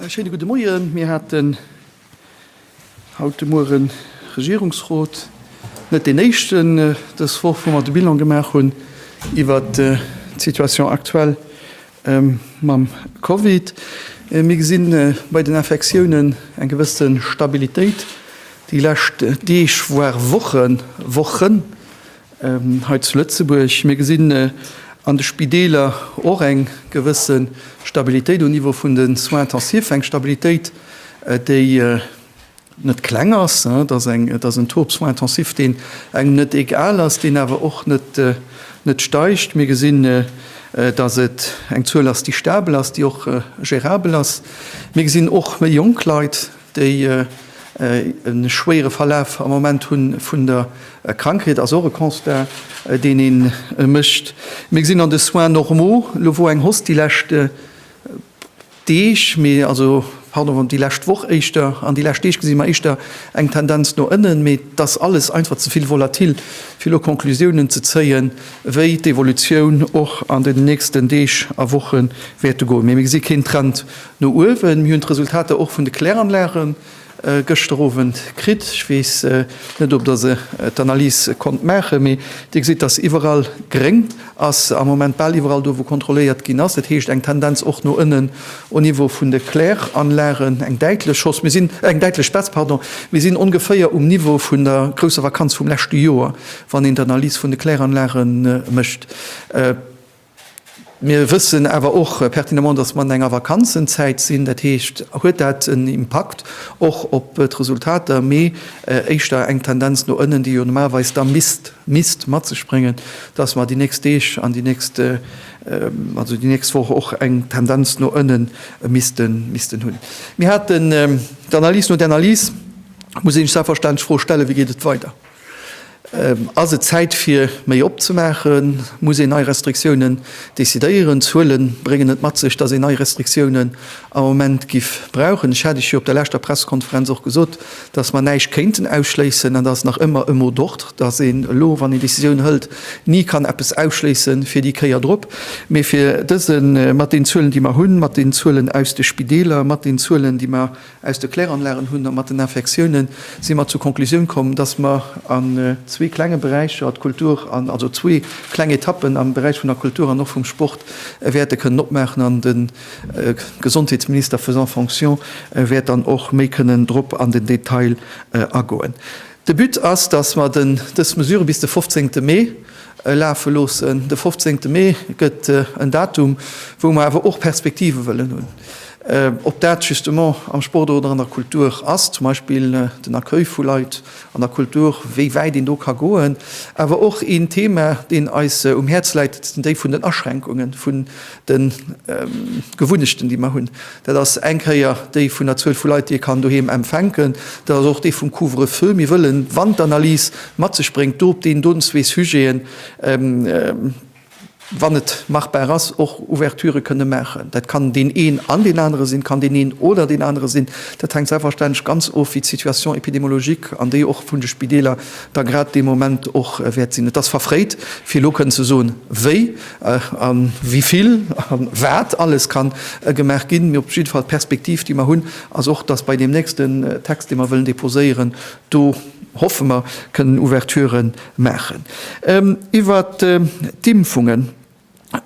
Äh, schéine gudde Moien. Mir haten haut de Mueren Regierungsrot, net deen éischten äh, dës Woch, wou mer de Bilan gemaach hunn iwwer äh, d'Situation aktuell ähm, mam Covid. Äh, mir gesinn äh, bei den Infektiounen eng gewësse Stabilitéit déi lescht Deeg, voire Wochen, Wochen. Hei zu Lëtzebuerg, mir gesinn an de Spideeler och eng gewësse Stabilitéit um Niveau vun de Soins intensifs, eng Stabilitéit, déi net kleng ass. Et ass eng, et ass en Taux op Soins intensifs, deen engem net egal ass, deen awer och net, net steigt. Mir gesinn, dass et eng Zuel ass, déi stabel ass, déi och gérabel ass. Mir gesinn och méi jonk Leit, déi e schwéiere Verlaf am Moment hu vun der Krankheet, ass och e Constat, deen ee mécht. Mir gesinn an de Soins normaux, elo wou eng Hausse déi lescht Deeg, mee also, pardon, déi lescht Woch éischter, an déi lescht Deeg gesi mer éischter eng Tendenz no ënnen, mee et ass alles einfach ze vill volatil, fir elo Conclusiounen ze zéien, wéi d'Evolutioun och an den nächsten Deeg a Woche wäerte goen. Mee mir gesi keen Trend No uewen. Mir hunn d'Resultater och vun de Kläranlage gëschter Owend kritt. Ech weess net, ob Der se d'Analyse konnt maachen, mee Dir gesitt, dass iwwerall gréng ass, am Moment bal iwwerall do, wou kontrolléiert ginn ass. Dat heescht, eng Tendenz och no ënnen au Niveau vun de Kläranlagen, eng däitlech Hausse, mir sinn, eng däitlech Baisse, pardon. Mir sinn ongeféier um Niveau vun der grousser Vakanz vum leschte Joer, wann een d'Analyse vun de Kläranlage mécht. Mir wëssen awer och pertinemment, dass mer an enger Vakanzenzäit sinn. Dat heescht, huet dat en Impakt och op d'Resultater, mee éischter eng Tendenz no ënnen, déi jo normalerweis da misst, misst mat sech bréngen, dass mer déi nächst Deeg an déi nächst, also déi nächst Woch och eng Tendenz no ënnen missten, missten hunn. Mir haten d'Analys. No der Analys muss ee sech selbstverständlech d'Fro stellen, Wéi geet et weider? Ass et Zäit fir méi opzemaachen? Muss een nei Restriktiounen decidéieren? D'Zuele bréngen et mat sech, datt een nei Restriktiounen am Moment giff brauchen. Ech hat Iech jo op der leschter Pressekonferenz och gesot, datt mer näischt kéinten ausschléissen, an dat ass nach ëmmer e mot d'ordre, datt een elo, wann een Decisioun hëlt, ni kann eppes ausschléissen fir déi Kéier drop. Mee fir dëse, mat den Zuelen déi mer hunn, mat den Zuelen aus de Spideeler, mat den Zuelen déi mer Aus de Kläranlagen hunn a mat den Infektiounen si mer zur Konklusioun komm, dass mer an zwee klenge Beräicher, d'Kultur an, also zwee kleng Etappen am Beräich vun der Kultur an och vum Sport wäerte kënnen opmaachen an de Gesondheetsminister faisant fonction wäert dann och méi kënnen drop an den Detail agoen. De But ass, dass mer dës Mesure bis de fofzéngte Mee lafe loossen. De fofzéngte Mee gëtt en Datum, wou mer awer och Perspektive wëllen hunn. Ob dat justement am Sport oder an der Kultur ass, zum Beispill den Accueil vu Leit an der Kultur, wéi wäit een do ka goen. Awer och een Thema, deen eis um Häerz läit, déi vun den Aschränkungen, De Gewunnechten, déi mer hunn, dat ass eng Kéier déi vun der Zuel vu Leit, déi ee kann doheem empfänken. Dat ass och déi vum Couvre-feu. Mir wëllen, wann d'Analys mat sech bréngt, do op deen doten zwee Sujeten, wann et machbar ass, och Ouverturë kënne maachen. Dat kann deen een an deen anere sinn, kann deen een oder deen anere sinn. Dat hänkt selbstverständlech ganz of, wéi d'Situation épidémologique, an déi och vun de Spideeler, da grad dee Moment och wäert sinn. Et ass verfréit, fir elo kënnen ze soen, wéi. a wéi vill a wat alles kann gemaach ginn. Mee op jidde Fall, d'Perspektiv, déi mer hunn, ass och, dass bei deem nächsten Text, dee mer wëllen deposéieren, do hoffe mer, kënnen Ouverture maachen. Iwwert d'Impfungen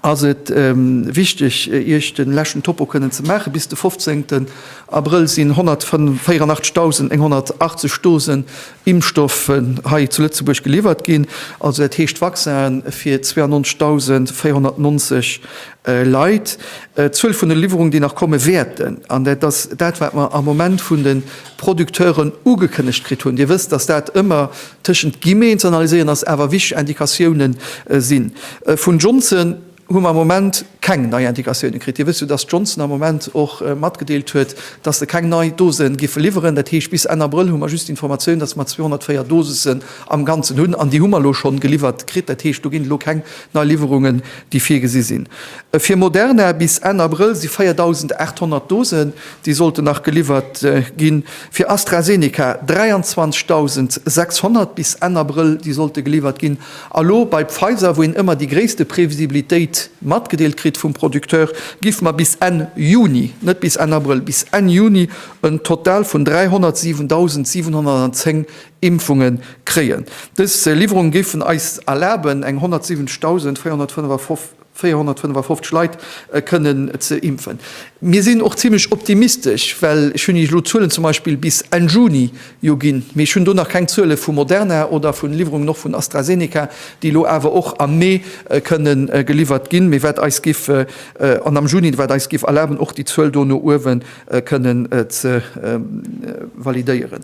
ass et wichteg, Iech de leschten Topo kënnen ze maachen. Bis de 15 Abrëll sinn 184.180 Dosen Impfstoffen hei zu Lëtzebuerg geliwwert ginn. Also dat heescht Vaccinen fir 92.490 Leit. D'Zuel vun de Liwwerungen, déi nach komme wäerten, an dat ass dat, wat mer am Moment vun de Producteuren ugekënnegt kritt hunn, Dir wësst, datt dat ëmmer tëschent Guillemeten ze analyséieren ass, awer wichteg Indikatioune sinn. Vun Johnson. hu mer am Moment keng nei Indikatioune kritt. Dir wësst jo, datt d'Johnson am Moment och matgedeelt huet, datt se keng nei Dose géife liwweren. Dat heescht, bis Enn Abrëll hu mer just d'Informatioun, datt mer 204 Dosisen am Ganzen hunn. An déi hu mer elo schonn geliwwert kritt. Dat heescht, do ginn elo keng nei Liwwerungen, déi virgesi sinn. Fir Moderna bis Enn Abrëll si 4.800 Dosen, déi sollten nach geliwwert ginn. Fir AstraZeneca 23.600 bis Enn Abrëll, déi sollte geliwwert ginn. A lo bei Pfizer, wou een ëmmer déi gréisste Previsibilitéit matgedeelt kritt vum Producteur, giff mer bis Enn Juni, net bis Enn Abrëll, bis Enn Juni en Total vun 307.710 Impfunge kréien. Dës Liwwerunge géifen eis erlaben, eng 170.455. 455 Leit kënnen ze impfen. Mir sinn och zimmlech optimistesch, well ech hunn Iech elo d'Zuelen zum Beispill bis Enn Juni jo ginn, mee ech hunn do nach keng Zuele vu Moderna oder vun Liwwerungen och vun AstraZeneca, déi elo awer och am Mee kënne geliwwert ginn, mee wat eis giff, an am Juni, wat eis giff erlaben, och déi Zuel do no uewe kënnen ze validéieren.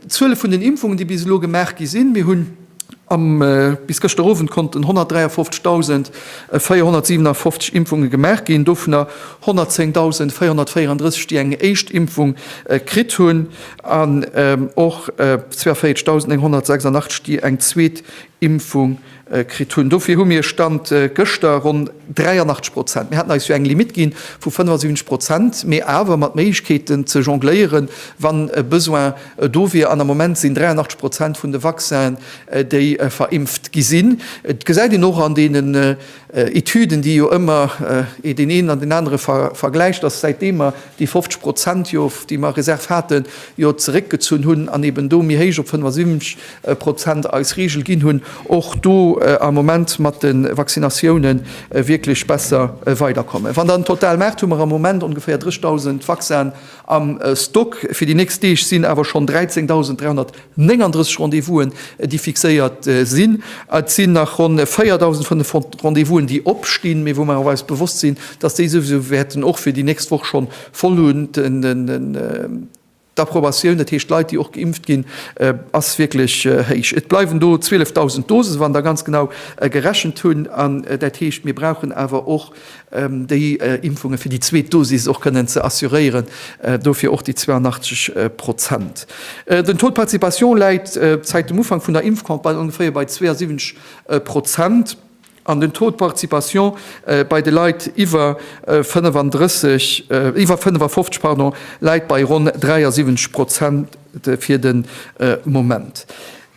D'Zuele vun den Impfungen, déi bis elo gemaach gi sinn, mir hunn. Am bis gëschter Owend konnten 153.457 Impfunge gemaach ginn, dovunner 110.434, déi eng éischt Impfung kritt hunn, an och 42.986, déi eng zweet Impfung kritt hunn. Dofir hu mir, Stand gëschter, ronn 83 Prozent, mir haten eis jo eng Limitt gi vu 75 Prozent, mee awer mat Méiglechkeeten ze jongléieren, wann e Besoin Do wier, an am Moment sinn 83 Prozent vun de Vaccinen, déi verimpft gi sinn. Et gesäit een och an deenen Etüden, déi jo ëmmer deen een an deen anere vergläicht, dass säitdem mer déi 50 Prozent jo, déi mer a Reserve haten, jo zeréckgezunn hunn an eeben do méi héich op 75 Prozent eis Regel ginn hunn, och do am Moment mat de Vaccinatiounen wierklech besser weiderkommen. Wann dann total maacht, hu mer am Moment ongeféier 30.000 Vaccinen Am Stock fir déi nächst Deeg sinn awer schonn 13.339 Rendez-vousen, déi fixéiert sinn. Et sinn nach ronn 4.500 Rendez-vousen, déi opstinn, mee wou mer awer eis bewosst sinn, dass déi souwisou wäerten och fir déi nächst Woch schonn voll hunn. D'Approbatioun, dat heescht Leit, déi och geimpft ginn, ass wierklech héich. Et bleiwen do 12.000 Dosen, wann der ganz genau gerechent hunn. An dat heescht, mir brauchen awer och déi Impfunge fir déi zweet Dosis och kënnen ze assuréieren, dofir och déi 82 Prozent. Den Taux de participation läit zäit dem Ufank vun der Impfcampagne ongeféier bei 72 Prozent an den Taux de participation bei de Leit iwwer 35, iwwer 55, pardon, läit bei ronn 73 Prozent fir de Moment.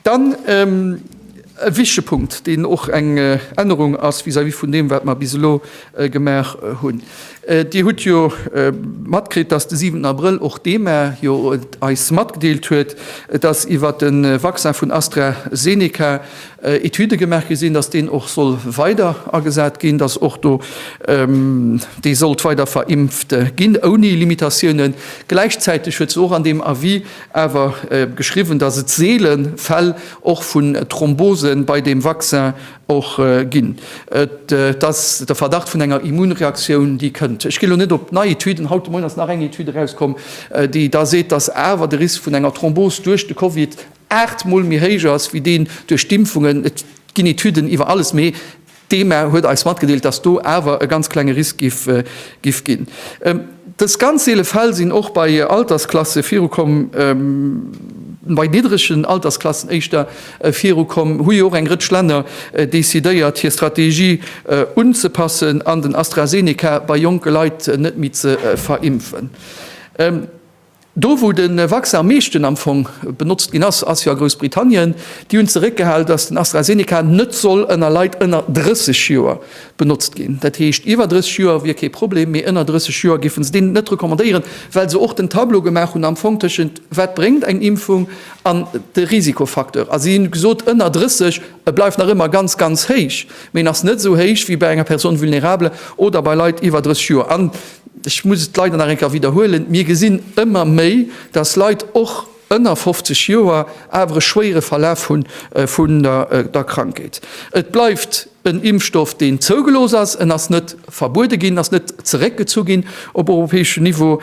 Dann e wichtige Punkt, deen och eng Ännerung ass vis-à-vis vun deem, wat mer bis elo gemaach hunn. Dir hutt jo matkritt, dass de 7 Abrëll och d'EMA jo eis matgedeelt huet, dass iwwert de Vaccin vun AstraZeneca Etüde gemaach gi sinn, dass deen och soll weider agesat ginn, dass och do dee sollt weider verimpft ginn ouni Limitatiounen. Gläichzäiteg huet se och an deem Avis awer geschriwwen, datt et seele Fäll och vun Thrombose bei deem Vaccin och ginn. Et ass de Verdacht vun enger Immunreaktioun, déi kënnt. Ech ginn elo net op nei Etüden, haut de Moien ass nach eng Etüd erauskomm, déi da seet, datt awer de Risk vun enger Thrombose duerch de Covid 8 Mol méi héich ass wéi deen duerch d'Impfungen. Et ginn Etüden iwwer alles, mee D'EMA huet eis matgedeelt, dass do awer e ganz klenge Risk giff ginn. Dës ganz seele Fäll sinn och bei Altersklasse virukomm, bei niddregen Altersklassen éischter virukomm. Hu jo och eng Rëtsch Länner decidéiert, hir Strategie unzepassen an den AstraZeneca bei jonke Leit net méi ze verimpfen. Do wou de Vaccin am meeschten am Fong benotzt ginn ass, ass jo a Groussbritannien. Déi hunn zeréckgehal, datt den AstraZeneca net soll ënner Leit ënner 30 Joer benotzt ginn. Dat heescht, iwwer 30 Joer wier kee Problem, mee ënner 30 Joer géife se deen net recommandéieren, well se och den Tableau gemaach hunn am Fong tëschent wat bréngt eng Impfung an de Risikofacteur. A si hu gesot, ënner 30, e bleift nach ëmmer ganz, ganz héich, mee en ass net esou héich wéi bei enger Personne vulnérable oder bei Leit iwwer 30 Joer. Ech muss et leider nach eng Kéier widderhuelen, Mir gesinn ëmmer méi, dass Leit och ënner 50 Joer awer e schwéiere Verlaf hu vun der Krankheet. Et bleift en Impfstoff, deen zougelooss ass. En ass net verbuede ginn, ass net zeréckgezu ginn op europäeschem Niveau.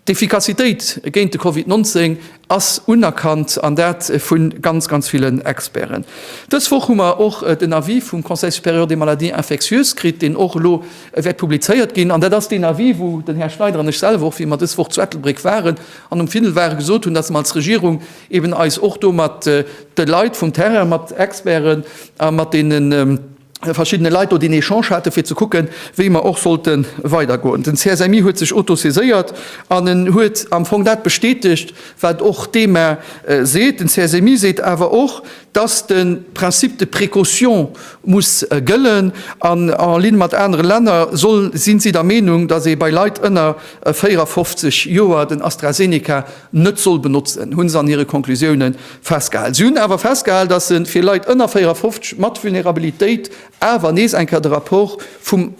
D'Efficacitéit géint de Covid 19 ass unerkannt, an dat vu ganz, ganz villen Experten. Dës Woch hu mer och den Avis vum Conseil supérieur des maladies infectieuses kritt, deen och elo wäert publizéiert ginn. An dat ass deen Avis, wou den Här Schneider an ech selwer och, wéi mer dës Woch zu Ettelbréck waren an um Findel waren, gesot hunn, datt mer als Regierung eeben eis och do mat de Leit vum Terrain, mat Experten a mat deenen, verschiddene Leit do deen Echange hate fir ze kucken, wéi mer och sollte weidergoen. Den CSMI huet sech autosaiséiert an en huet am Fong dat bestätegt, wat och d'EMA seet. Den CSMI seet awer och, dass de Principe de précaution muss gëllen an en ligne mat anere Länner soll, si si der Meenung, dass ee bei Leit ënner 54 Joer den AstraZeneca net soll benotzen, hu se an hire Conclusiounen festgehal. Si hunn awer festgehal, datt se fir Leit ënner 54 mat Vulnerabilitéit awer nees eng Kéier de Rapport vum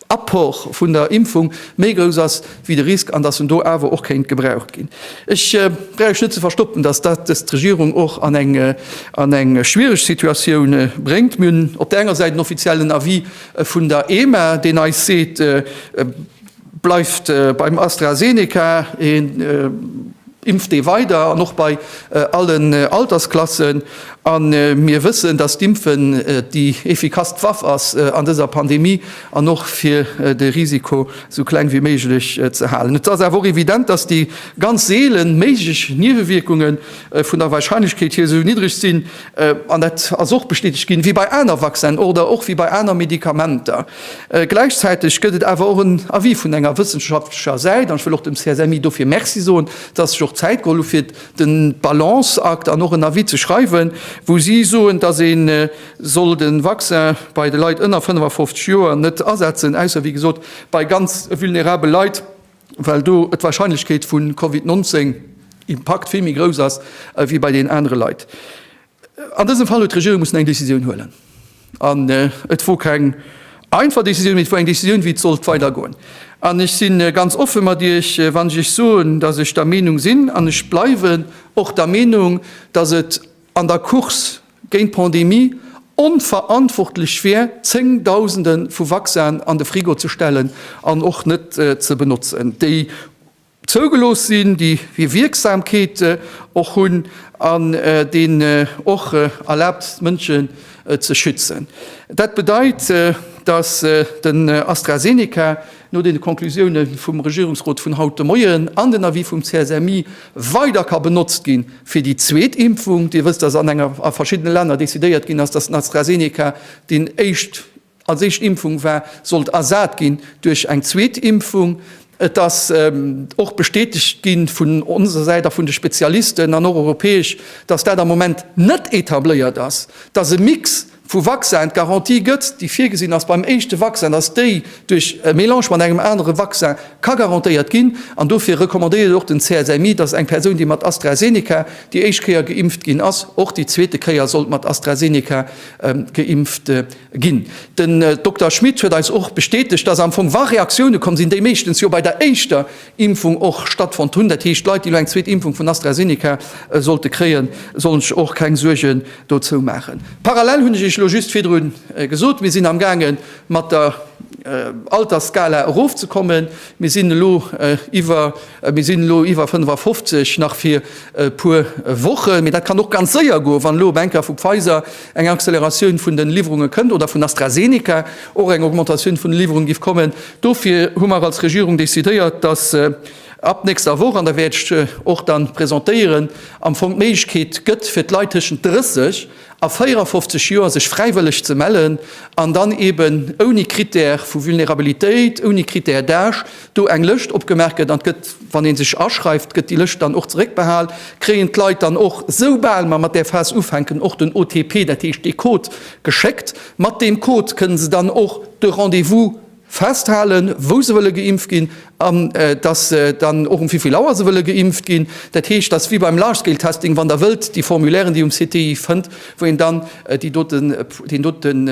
Apport vun der Impfung méi grouss ass wéi de Risk an datt en do awer och kéint gebraucht ginn. Ech bräuch net ze verstoppen, datt dat dës d'Regierung och an eng an eng schwiereg Situatioun bréngt. Mir hunn op där enger Säit en offiziellen Avis vun der EMA, deen eis seet, Bleift beim AstraZeneca, een impft dee weider an och bei allen Altersklassen. A mir wëssen, datt d'Impfen déi effikasst Waff ass an dëser Pandemie an och fir de Risiko esou kleng wéi méiglech ze halen. Et ass awer och evident, datt déi ganz seele méiglech Niewewierkunge vun der Warscheinlechkeet hier esou niddreg sinn, An dat ass och bestätegt ginn, wéi bei aner Vaccinen oder och wéi bei aner Medikamenter. Gläichzäiteg gëtt et awer och en Avis vun enger wëssenschaftlecher Säit, an ech wëll och dem CSMI dofir Merci soen, dass sech och Zäit geholl hu fir de Balanceakt an och en Avis ze schreiwen, wou si soen, dass ee soll de Vaccin bei de Leit ënner 55 Joer net asetzen, ausser wéi gesot bei ganz vulnerabel Leit. well do d'Warscheinlechkeet vu Covid 19 Impakt vill méi grouss ass wéi bei deenen anere Leit. An dësem Fall huet d'Regierung mussen eng Decisioun huelen. An et wor keng einfach Decisioun, mee et wor eng Decisioun, wéi et sollt weidergoen. An ech si ganz offe mat Iech, wann ech Iech soen, datt ech der Meenung sinn, an ech bleiwen och der Meenung, datt et an der Course géint d'Pandemie onverantwortlech wier, Zéngdausende vu Vaccinen an de Frigo ze stellen an och net ze benotzen, déi zougelooss sinn, déi hir Wierksamkeet och hunn an déi och erlaabt sinn, d'Mënsche ze schützen. Dat bedeit, datt den AstraZeneca, no den Konklusioune vum Regierungsrot vun haut de Moien an den Avis vum CSMI, weider ka benotzt gi fir déi zweet Impfung. Dir wësst, datt an enger a verschiddene Länner decidéiert ginn ass, datt den AstraZeneca, deen éischt als éischt Impfung war, sollt ersat ginn duerch eng zweet Impfung. Et ass och bestätegt gi vun onser Säit a vun de Spezialisten an och europäesch, datt dat am Moment net etabléiert ass, datt e Mix, vu Vaccin d'Garantie gëtt, déi virgesinn ass beim éischte Vaccin, dass déi duerch e Mélange mat engem anere Vaccin ka garantéiert ginn. An dofir recommandéiert och den CSMI, dass eng Persoun, déi mat AstraZeneca déi éischt Kéier geimpft ginn ass, och déi zweete Kéier sollt mat AstraZeneca geimpft ginn. Den Dokter Schmit huet eis och bestätegt, dass am Fong, wa Reaktioune komm sinn, déi meeschtens jo bei der éischter Impfung och stattfonnt hunn. Dat heescht, Leit, déi elo eng zweet Impfung vun AstraZeneca sollte kréien, sollen sech och keng Suergen dozou maachen. Parallel, hunn ech Iech elo just virdru gesot, mir sinn amgaange mat der Altersskala erofzekommen. Mir sinn elo iwwer, mir sinn elo iwwer 55, nach fir e puer Wochen, mee dat kann och ganz séier goen, wann elo op enker vu Pfizer Eng Acceleratioun vun den Liwwerunge kënnt, oder vun AstraZeneca och eng Augmentatioun vun de Liwwerunge giff kommen. Dofir hu mer als Regierung décidéiert, dass ab nächster Woch, an da wäert ech och dann presentéieren, am Fong d'Méiglechkeet gëtt fir d'Leit tëschent 30 a 54 Joer sech fräiwëlleg ze mellen, an dann eben ouni Critère vu Vulnerabilitéit, ouni Critère d'âge, do eng Lëscht opgemaach gëtt an gëtt, wann ee sech aschreift, gëtt déi Lëscht dann och zeréckbehal, kréien d'Leit dann och, soubal mer mat där Phas ufänken, och den OTP, dat heescht dee Code geschéckt. Mat deem Code kënne se dann och de Rendez-vous festhalen, wou se wëlle geimpft ginn an dass dann och um wéivill Auer se wëlle geimpft ginn. Dat heescht, dat ass wéi beim Large-Scale-Testing, wann Der wëllt, déi Formulairen, déi um CTI fënnt, wou een dann déi doten, deen doten,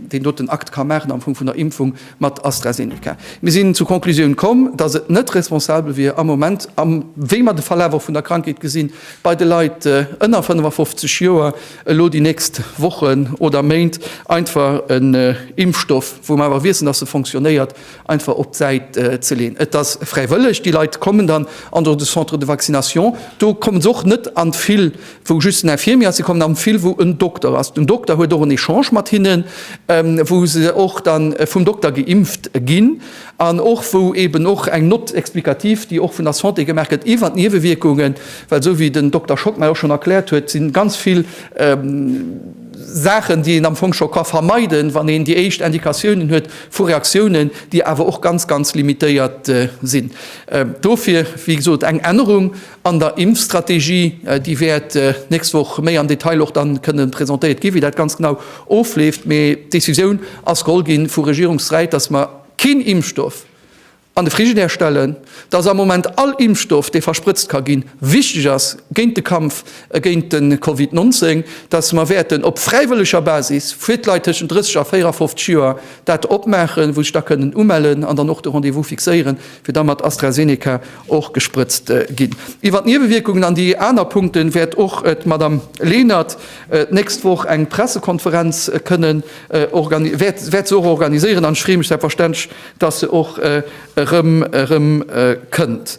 deen doten Akt ka maachen am Fong vun der Impfung, mat AstraZeneca. Mir sinn zur Conclusioun komm, datt et net responsabel wier am Moment, am wéi mer de Verlaf och vun der Krankheet gesinn, bei de Leit ënner 55 Joer elo déi nächst Wochen oder Méint einfach en Impfstoff, wou mer awer wiessen, datt e fonctionnéiert, einfach op d'Säit ze leeën. Et ass fräiwëlleg, déi Leit kommen dann an de Centre de vaccination, do kommen se och net an vill wou just en Infirmier ass, si kommen am vill wou en Dokter ass, den Dokter huet och en Echange mat hinnen, wou se och da vum Dokter geimpft ginn an och wou eeben och eng Note explicative, déi och vun der Santé gemaach gëtt iwwert d'Niewewierkungen, well esou wéi den Dokter Schott mär och schonn erkläert huet, si ganz vill Saachen, déi een am Fong scho ka vermeiden, wann een déi éischt Indikatiounen huet vu Reaktiounen, déi awer och ganz, ganz limitéiert sinn. Dofir, wéi gesot, eng Ännerung An der Impfstrategie, déi wäert d'nächst Woch méi am Detail och dann kënnen presentéiert ginn, wéi dat ganz genau ofleeft, mee d'Décisioun ass geholl ginn vu Regierungssäit, dass mer keen Impfstoff an de Frigidaire stellen, dass am Moment all Impfstoff, dee versprëtzt ka ginn, wichteg ass géint de Kampf géint de Covid 19, dass mer wäerten op fräiwëlleger Basis fir d'Leit tëschent 30 a 54 Joer dat opmaachen, wou sech da kënnen umellen an dann och de Rendez-vous fixéieren. fir da mat AstraZeneca och gesprëtzt ginn. Iwwer d'Niewewierkungen an déi aner Punkte wäert och d'Madame Lenert d'nächst Woch eng Pressekonferenz kënnen organi-, wäert, wäert se och organiséieren an ech freeë mech selbstverständlech, dass se och erëm, erëm kënnt.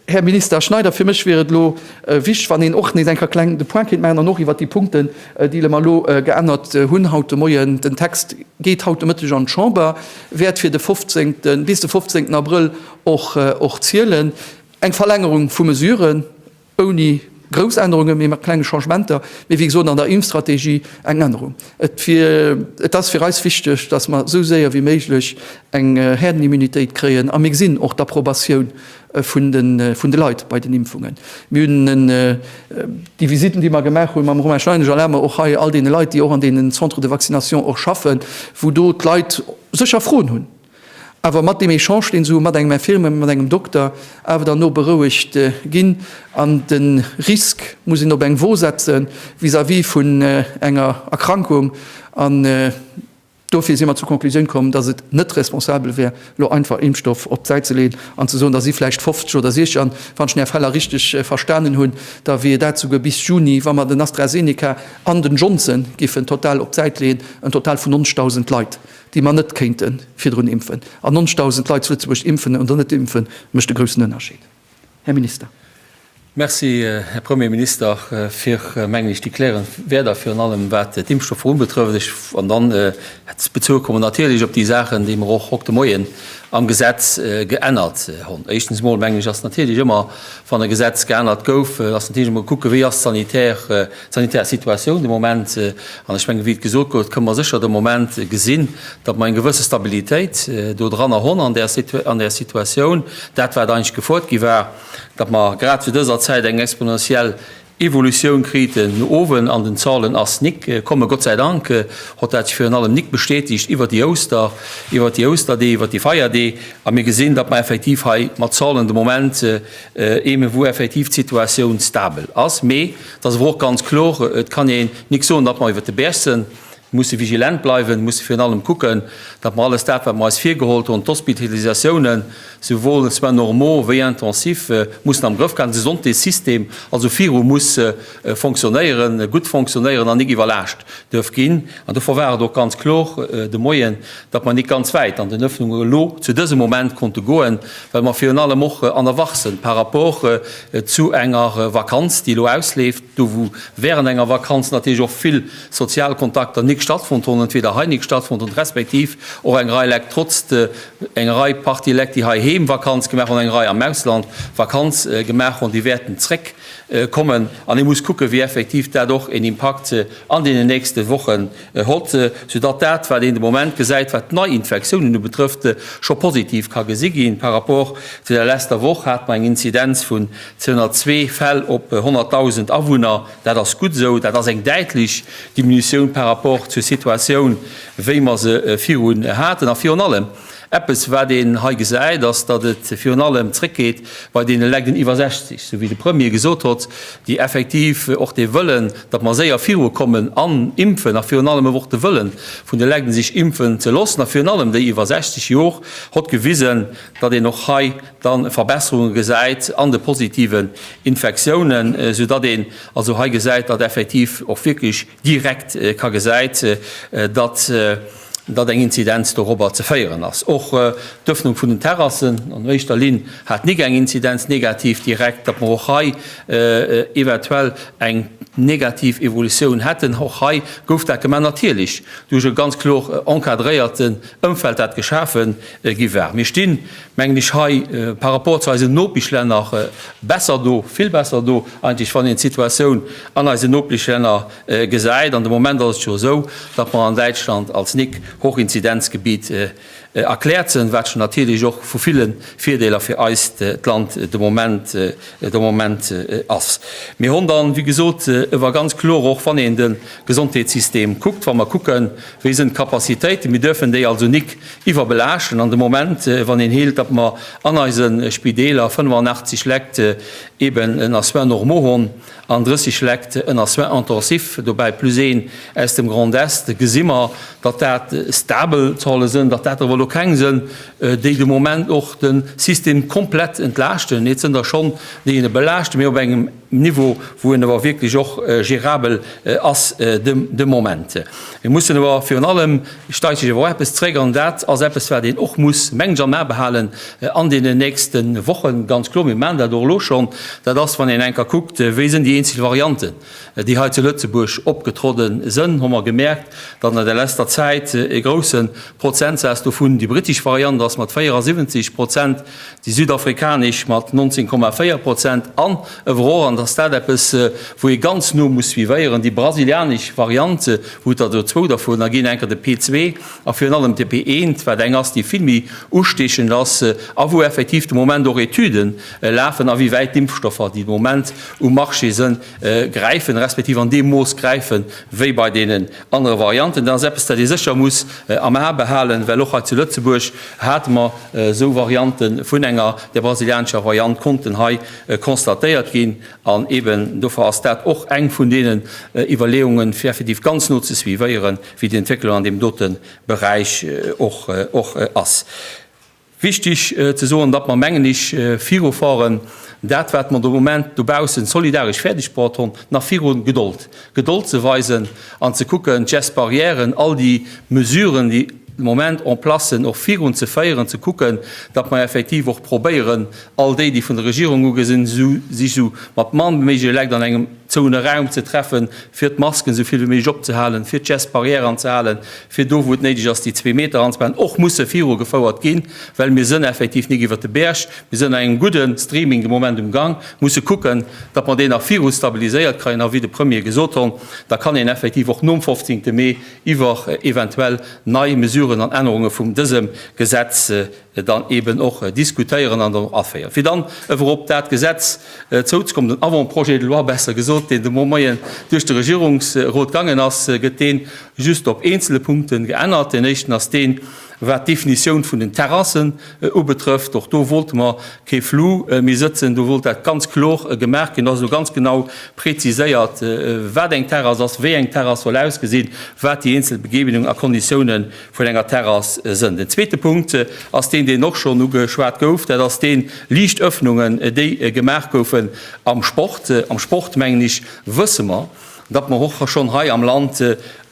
Här Minister Schneider, fir mech wier et elo wichteg, wann een och nees eng Kéier kleng de Point kéint maachen an och iwwert déi Punkten, déi mer elo geännert hunn haut de Moien. Den Text geet haut de Mëtteg an d'Chamber, wäert fir de 15, bis de 15 Abrëll och zielen. Eng Verlängerung vu Mesuren ouni, Grouss Ännerungen, mee mat klenge Changementer, mee wéi gesot an der Impfstrategie eng Ännerung. Et ass fir eis wichteg, dass mer esou séier wéi méiglech eng Häerdenimmunitéit kréien, a mir gesinn och d'Approbatioun vun de Leit bei den Impfungen. Mir hunn déi Visitten, déi mer gemaach hu mam Romain Schneidesch a Lamer, och hei all deene Leit, déi och an deenen Centres de vaccination och schaffen, wou do d'Leit sécher Froen hunn, Awer mat deem Echange, deen se mat engem Infirmier, mat engem Dokter awer dann och berouegt ginn, an de Risk muss een op eng Wo setze vis-à-vis vun enger Erkrankung, an dofir si mer zur Conclusioun komm, datt et net responsabel wär, elo einfach Impfstoff op d'Säit ze leeën an ze soen, da si vläicht 50 oder 60, an wann ech den Här Feller richteg verstanen hunn, da wier dat souguer bis Juni, wa mer den AstraZeneca an den Johnson giffen total op d'Säit leeën, en Total vun ons 1.000 Leit. déi mer net kéinte virdrun impfen, an 90.000 Leit zu Lëtzebuerg impfen oder net impfen, mécht e groussen Ënnerscheed, Här Minister. Merci, Här Premierminister, fir, mengen ech, déi klärend Wierder, virun allem wat d'Impfstoffer unbetrëfft. An dann bezoe kommen natierlech op déi Saachen, déi mer och hokt de Moien am Gesetz geännert hunn. Éischtens emol, mengen ech, ass natierlech ëmmer, wann e Gesetz geännert gouf, ass natierlech emol kucken, wéi ass d'sanitär D'sanitär Situatioun de Moment, an ech mengen, wéi et gesot gouf, kënne mer sécher de Moment gesinn, datt mer eng gewësse Stabilitéit do dranner hunn an där Situa an där Situatioun, dat wat eigentlech gefuert gi war, datt mer grad zu dëser Zäit eng exponentiell Evolutioun kriten no owen an den Zahlen ass nik komme. Gott säi Dank hott dat sech virun allem nik bestätegt iwwert déi Ouster, iwwert déi Ousterdeeg, iwwert déi Feierdeeg a mir gesinn, datt mer effektiv hei mat Zahlen de Moment eeme wou effektiv d'Situatioun stabel ass, mee Et ass awer och ganz kloer, et kann een nik soen, datt mer iwwert de Bercen musse vigilent bleiwen, musse virun allem kucken, datt mer alles dat, wat mer eis virgeholt hunn, d'Hospitalisatiounen, souwuel soins normaux wéi intensifs, mussen am Grëff kréien, de Santésystem also viru muss fonctionnéieren, gutt fonctionnéieren an nik iwwerlaascht duerf ginn. An dovor war et och ganz kloer de Moien, datt mer nit ganz wäit an den Öffnungen elo zu dësem Moment konnte goen, well mer virun allem och an der Wach sënn par rapport zu enger Vakanz, déi elo ausleeft, do wou während enger Vakanz natierlech och vill sozial Kontakter nit stattfonnt hunn, entweder hei nit stattfonnt hunn, respektiv och eng Rei Lekt trotz de, eng Rei Partie Lekt, déi heiheem Vakanz gemaach hunn, eng Rei am Ausland Vakanz gemaach hunn, déi wäerten zréck kommen. An ee muss kucken, wéi effektiv dat och een Impakt an deenen nächste Wochen Hott, soudatt dat, wat een de Moment gesäit, wat d'Neiinfektiounen ubetrëfft, scho positiv ka gesi ginn. Par rapport zu der leschter Woch hate mer eng Inzidenz vun 202 Fäll op 100.000 Awunner. Dat ass gutt esou. Dat ass eng däitlech Diminutioun par rapport zur Situatioun, wéi mer se viru haten. A virun allem, Eppes, wat een hei gesäit, ass, datt et virun allem zréckgeet bei deene Lekt iwwer 60, sou wéi de Premier gesot hott, déi effektiv och dee Wëllen, datt mer séier viru kommen an impfen, a virun allem awer och de Wëllen vun de Lekt, sech impfen ze loossen, a virun allem déi iwwer 60 Jor, hott gewisen, datt een och hei da Verbesserunge gesäit an de positiven Infektiounen, soudatt een also hei gesäit, datt effektiv och wierklech. direkt ka gesäit, datt datt eng Inzidenz dorobber ze féieren ass. Och d'Ëffnung vun den Terrassen an éischter Linn hat nik eng Inzidenz negativ direkt, datt mer och hei eventuell eng negativ Evolutioun hätten. Och hei gouf dat gemaach, natierlech duerch e ganz kloer encadréierten Ëmfeld, dat geschafe gi war. Mir stinn mengen ech, hei par rapport zu eisen Nopeschlänner besser do, vill besser do eigentlech, wann een d'Situatioun an eisen Nopeschlänner gesäit. An de Moment ass et jo esou, datt mer an Däitschland als nic Hochinzidenzgebiet erkläert sinn, wat jo natierlech och vu ville Virdeeler fir eist Land de Moment de Moment ass. Mir hunn dann, wéi gesot, ewer ganz kloer och wann een de Gesondheetssystem kuckt, wa mer kucken, wéi sinn d'Capacitéiten, mir duerfen déi also nic Iwwerbelaaschten an de Moment, wann een heelt, datt mer an eise Spideeler 85 Lekt eben ënner Soins normaux hunn an 30 Lekt ënner Soins intensifs, dobäi plus een aus dem Grand Est, gesi mer, datt dat stabel Zahlen sënn, datt dat awer elo keng sënn, déi de Moment och de System komplett entlaaschten. Et sënn der schonn, déi e belaaschten, mee op engem Niveau, wou en awer wierklech och gérabel ass de Moment. Mir mussen awer virun allem, ech deiche jo awer och eppes zréck, an dat ass eppes, wat een och muss, mengen ech, am A behalen an deenen nächste Wochen, ganz kloer, mir maachen dat och elo schonn, dat ass, wann een eng Kéier kuckt, wéi sinn déi eenzel Varianten, déi hei zu Lëtzebuerg opgetrodde sënn, hu mer gemerkt, datt an der leschter Zäit e grousse Prozentsaz dovun, déi brittesch Variant ass mat 74 Prozent, déi südafrikanesch mat 19,4 Prozent an, overall, an dass dat eppes wou ee ganz no muss suivéieren, déi brasilianesch Variant, wou et der do zwou dovunner ginn, enker de P2 a virun allem de P1, wat eng ass déi vill méi ustiechend ass a wou effektiv de Moment och Etüde lafen, awéiwäit d'Impfstoffer, déi de Moment um Marché sënn, gräifen, respektiv an deem Mooss gräifen, wéi bei deenen Aner Varianten, dat ass eppes, dat ee sécher muss am A behalen, well och hei zu Lëtzebuerg hate mer esou Varianten vun enger, der brasilianescher Variant, konnten hei constatéiert ginn. An eben dofir ass dat och eng vun deenen Iwwerleeungen, fir effektiv ganz no ze suivéieren, wéi déi Entwécklung an deem dote Beräich och ass. Wichtig ze soen, datt mer, mengen ech, viru Foren dat, wat mer de Moment dobaussen solidaresch fäerdegbruecht hunn, nach viru Gedold, Gedold ze weisen an ze kucken, d'Gestes barrières, all déi Mesuren, déi de Moment en place sinn, och virun ze féieren, ze kucken, datt mer effektiv och probéieren, all déi, déi vun der Regierung ugesinn, sech esou mat mann wéi méiglech Lekt an engem. Zoune Raum ze treffen, fir d'Masken esou vill wéi méiglech opzehalen, fir d'Gestes barrières anzehalen, fir do wou et néideg ass déi zwee Meter anzebehalen, och musse viru gefouert ginn, well mir sënn effektiv nik iwwert de Bäerg, mir sënn an engem gudde Streaming de Moment um Gang, musse kucken, datt mer deen nach viru stabiliséiert kreien, a wéi de Premier gesot hon, da kann een effektiv och nom 15 Mee iwwer eventuell nei Mesuren an Ännerunge vum dësem Gesetz dann eben och diskutéieren an dann och aféieren, fir dann ewer op dat Gesetz zouzeko-mmen, den Avant-projet de loi besser gesot, deen de Mo Moien duerch de Regierungsrot gaangen ass, gëtt dee just op eenzele Punkte geännert. Deen éischten ass deen, wat d'Definitioun vun den Terrassen ubetrëfft. Och do wollte mer kee Flou méi sëtzen, do wollt dat ganz kloer gemaach ginn. Do ass elo ganz genau preziséiert, wat eng Terrass ass, wéi eng Terrass soll ausgesinn, wat déi eenzel Begebenungen a Konditiounen vun enger Terrass sënn. Den zweete Punkt ass deen, deen och schonn ugeschwat gouf, dat ass deen, liicht Öffnungen, déi gemaach goufen am Sport. Am Sport, mengen ech, wësse mer, datt mer och schonn hei am Land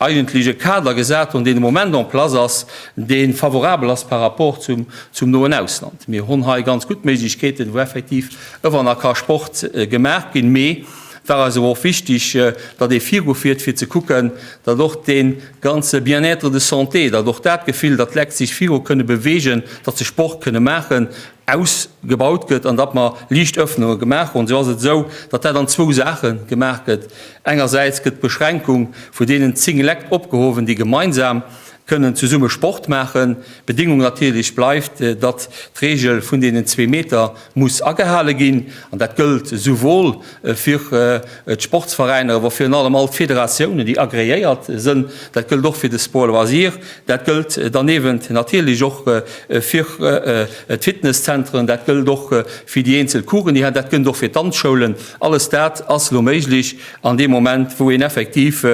eigentlech e Kader gesat hunn, deen de Moment en place ass, dee favorabel ass par rapport zum noen Ausland. Mir hunn hei ganz gutt Méiglechkeeten, wou effektiv ëwer nach ka Sport gemaach ginn. Mee Et war eis awer och wichtig, datt ee virufiert, fir ze kucken, datt och dee ganze Bien-être de santé, datt och dat Gefill, datt d'Lekt sech viru kënne bewegen, datt se Sport kënne maachen, ausgebaut gëtt an datt mer liicht Öffnunge gemaach hunn. Esou ass et esou, datt dat an zwou Saache gemaach gëtt. Engersäits gëtt d'Beschränkung vu deenen zéng Lekt opgehowen, déi gemeinsam kënnen zesumme Sport maachen. D'Bedingung natierlech bleift, datt d'Regel vun deenen zwee Meter muss agehale ginn an dat gëllt esouwuel fir d'Sportsveräiner wou virun allem all d'Federatiounen, déi agreéiert sënn, dat gëllt och fir de Sport loisir, dat gëllt danewend natierlech och fir d'Fitnesszentren, dat gëllt och fir déi eenzel Coursen, déi dat gëllt och fir d'Danzschoulen. Alles dat ass elo méiglech an deem Moment, wou een effektiv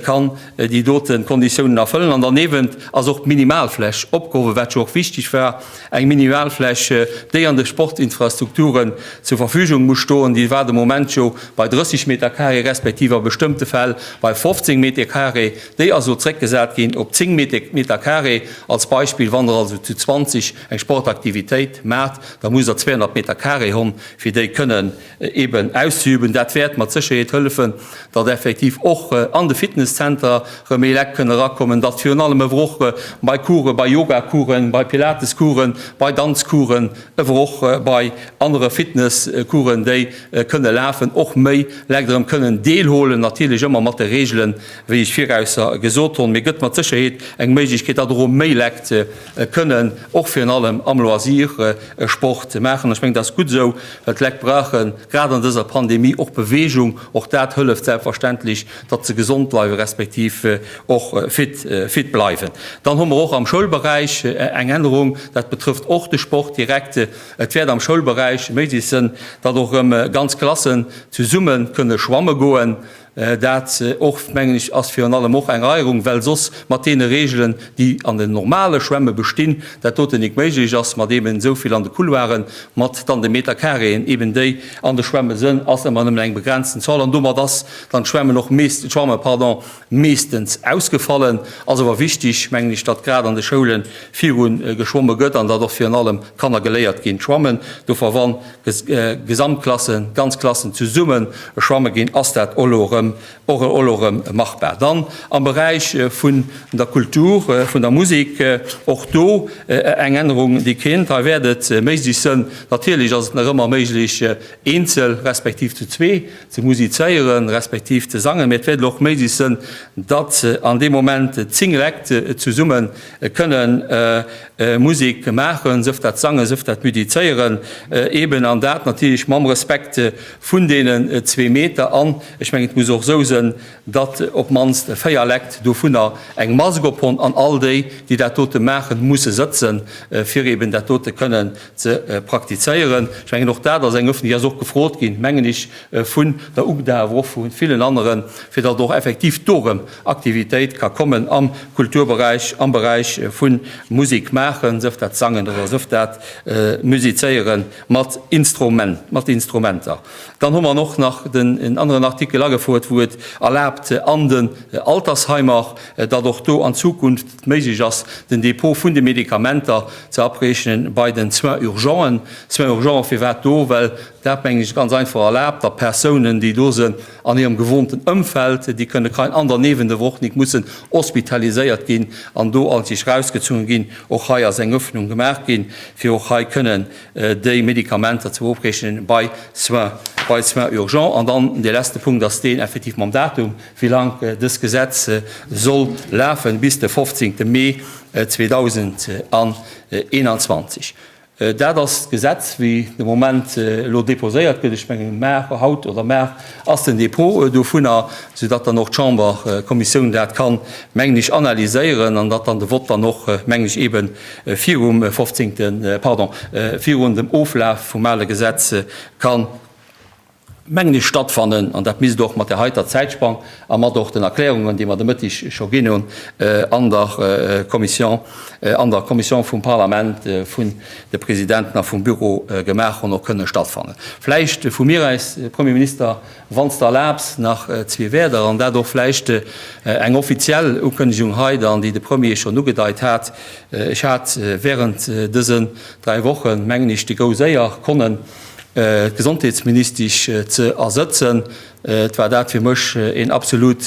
kann déi dote Konditiounen erfëllen. An danewend ass och d'Minimalfläch opgehowe, wat jo och wichtig war, Eng Minimalfläch, déi an de Sportinfrastrukturen zur Verfügung muss stoen, déi war de Moment jo bei 30 Metercarré respektiv a bestëmmte Fäll bei 15 Metecarré. Déi ass elo zréckgesat ginn op 10 Metercarré. Als Beispill, wann Der also zu 20 eng Sportaktivitéit maacht, da musst Der 200 Metercarré hunn, fir déi kënnen eben auszeüben. Dat wäert mat Sécherheet hëllefen, datt effektiv och an de Fitnesscenter rëm méi Lekt kënnen erakommen, datt virun allem ewer och bei Coursen, bei Yogacoursen, bei Pilatescoursen, bei Danzcoursen, ewer och bei anere Fitnesscoursen, déi kënne lafen, och méi Lekt erëm kënnen deelhuelen, natierlech ëmmer mat de Reegelen, wéi ech virausser gesot hunn. Mee gëtt mat Sécherheet eng Méiglechkeet, datt och erëm méi Lekt, kënnen och virun allem am Loisir Sport maachen. Ech mengen, dat ass gutt esou, well d'Leit brauchen, grad an dëser Pandemie, och Beweegung. Och dat hëlleft selbstverständlech, datt se gesond bleiwen, respektiv och fit bleiwen. Dann hu mer och am Schoulberäich eng Ännerung, dat betrëfft och de Sport direkt. Et wäert am Schoulberäich méiglech sinn, datt och erëm ganz Klassen zesumme kënne schwamme goen. Dat, och, mengen ech, ass virun allem och eng Eierung, well soss mat deene Regeln, déi an den normale Schwämme bestinn, dat doten nik méiglech ass, mat eben esou vill an de Couloiren, mat dann de Meterkareeën eben, déi an de Schwämme sënn, ass ëmmer nëmmen eng begrenzten Zahl. An domat ass dann d'Schwämmen och mees-, d'Schwamme, pardon, meestens ausgefallen. Ass awer wichtig, mengen ech, datt grad an de Schoulen viru geschwomme gëtt an datt och virun allem d'Kanner geléiert ginn d'Schwammen. Dofawann Gesamtklassen, ganz Klassen zesummen schwamme ginn, ass dat elo erëm och elo erëm machbar. Dann am Beräich vun der Kultur, vun der Musek, och do eng Ännerung, déi kéint. Hei wäert et méiglech sënn, natierlech ass et nach ëmmer méiglech, eenzel respektiv zu zwee ze musizéieren, respektiv ze sangen, mä et wäert elo och méiglech sënn, datt an deem Moment zéng Lekt zesumme kënnen Musik maachen, sëft dat sangen, sëft dat müdizéieren eben, an dat natierlech mam Respekt vun deenen zwee Meter. An ech mengen, et muss och esou sen, datt op d'mannst véier Lekt dovunner eng Mask ophonn, an all déi, déi dat dote maachen, musse sëtzen, fir eben dat dote kënnen ze praktizéieren. Ech mengen, och dat ass eng Öffnung, déi ass och gefrot ginn, mengen ech, vun der UGDA, awer och vu villen aneren, fir datt et och effektiv dorëm Aktivitéit ka kommen am Kulturberäich, am Beräich vu Musik maachen, sëf dat Sangen oder sëf dat Musizéiere mat Instrumenter. Dann hu mer och nach en aneren Artikel agefouert, wou et erlaabt an den Altersheimer, datt och do an Zukunft et méiglech ass, den Dépôt vun de Medikamenter ze abrechnen bei den Soins urgenten. Soins urgents firwat do? Well dat, mengen ech, ganz einfach erlaabt, datt Persounen, déi do se an hirem gewohnten Ëmfeld, déi kënne kein ander neven der Woch nik mussen hospitaliséiert ginn an do all sich rausgezunge ginn. Och hei ass eng Öffnung gemaach ginn, fir och hei kënnen déi Medikamenter ze beopreechnen bei Soins, bei Soins urgents. An dann dee letzte Punkt ass deen effektiv mam Datum, wéi laang dëst Gesetz soll lafen, bis de 15. Mee 2021. Dat ass d'Gesetz, wéi de Moment elo déposéiert gëtt. Ech mengen, mar haut oder mar ass den Dépôt dovunner, soudatt dann och d'Chamber, d'Kommissioun dat kann, mengen ech, analyséieren an datt dann de Vott dann och, mengen ech, eebe virum 15, pardon, virun dem Oflaf vum ale Gesetz ka. mengen ech, stattfannen, an dat misst och mat där heiter Zäitspann a mat och den Erklärungen, déi mer de Mëtteg scho ginn hunn an der Kommission, an der Kommission vum Parlament vun de Presidenten a vum Büro gemaach hunn, och kënnen stattfannen. Vläicht vu mir aus, Premier Minister, wann s de erlaabs, nach zwee Wäerder, an dat och vläicht eng offiziell Ukënnegung hei dann, déi de Premier schonn ugedeit hat. Ech hat während dësen dräi Wochen, mengen ech, déi grouss Éier, konnen, Gesondheetsministesch ze ersëtzen. Et war dat fir mech een absolut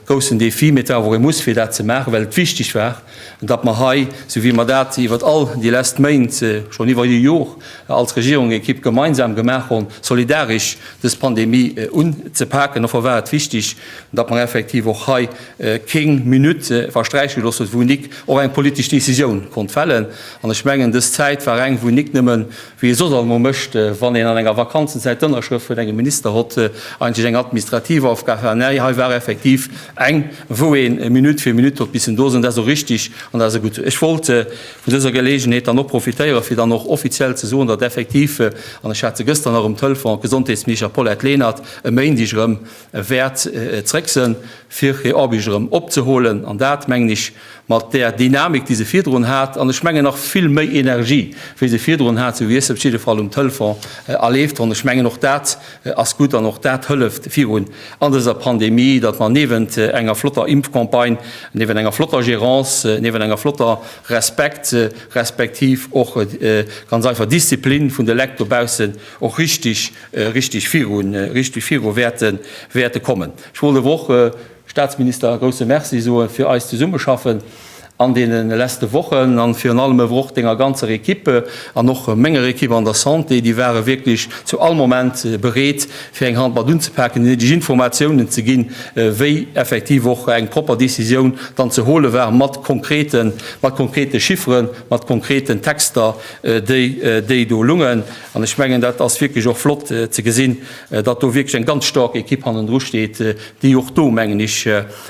groussen Défi, mee et war awer och ee Muss fir dat ze maachen, well et wichteg war, datt mer hei, esou wéi mer dat iwwert all déi lesst Méint, schonn iwwer e Jor, als Regierungsekipp gemeinsam gemaach hunn, solidaresch dës Pandemie unzepaken. Dofir war et wichteg, datt mer effektiv och hei keng Minutt versträiche gelooss huet, wou nik och eng politesch Décisioun konnt fällen. An ech mengen, dës Zäit war eng, wou nik nëmmen wéi ee soss allemoo mécht, wann een an enger Vakanzenzäit d'Ënnerschrëft vun engem Minister hott, eigentlech eng administrativ Aufgab hat. Näi, hei war effektiv eng, wou een Minutt fir Minutt hott missen do sinn. Dat ass och richtig an dat ass och gutt. Ech wollt vun dëser Geleegenheet dann och profitéieren, fir dann och offiziell ze soen, datt effektiv, an ech hat se gëschter nach um Telefon, d'Gesondheetsminister Paulette Lenert e Méindeg erëm wäert zréck sënn, fir hir Arbécht erëm opzeholen. An dat, mengen ech, Mat där Dynamik, déi se virdrun hat, an ech mengen nach vill méi Energie, wéi se virdrun hat, sou wier se op jidde Fall um Telefon a leeft ronn. Ech mengen, och dat ass gutt an och dat hëlleft virun an dëser Pandemie, datt mer niewent enger flotter Impfcampagne, niewent enger flotter Gerance, niewent enger flotter Respekt, respektiv och ganz einfach Disziplin vun de Lekt dobaussen och richtig, richtig viru wäerte kommen. Ech wollt awer och, Staatsminister, e grousse Merci soe fir eist Zesummeschaffen an deene leschte Wochen a virun allem ewer och Denger ganzer Equipe an och menger Equipe an der Santé. Déi ware wierklech zu all Moment bereet, fir eng Hand mat unzepaken, déi néideg Informatiounen ze ginn, wéi effektiv och eng propper Décisioun dann ze hole war, mat konkreten, mat konkrete Chifferen, mat konkreten Texter, déi do lungen. An ech mengen, dat ass wierklech och flott ze gesinn, datt do wierklech eng ganz staark Ekipp hannendru steet, déi och do, mengen ech,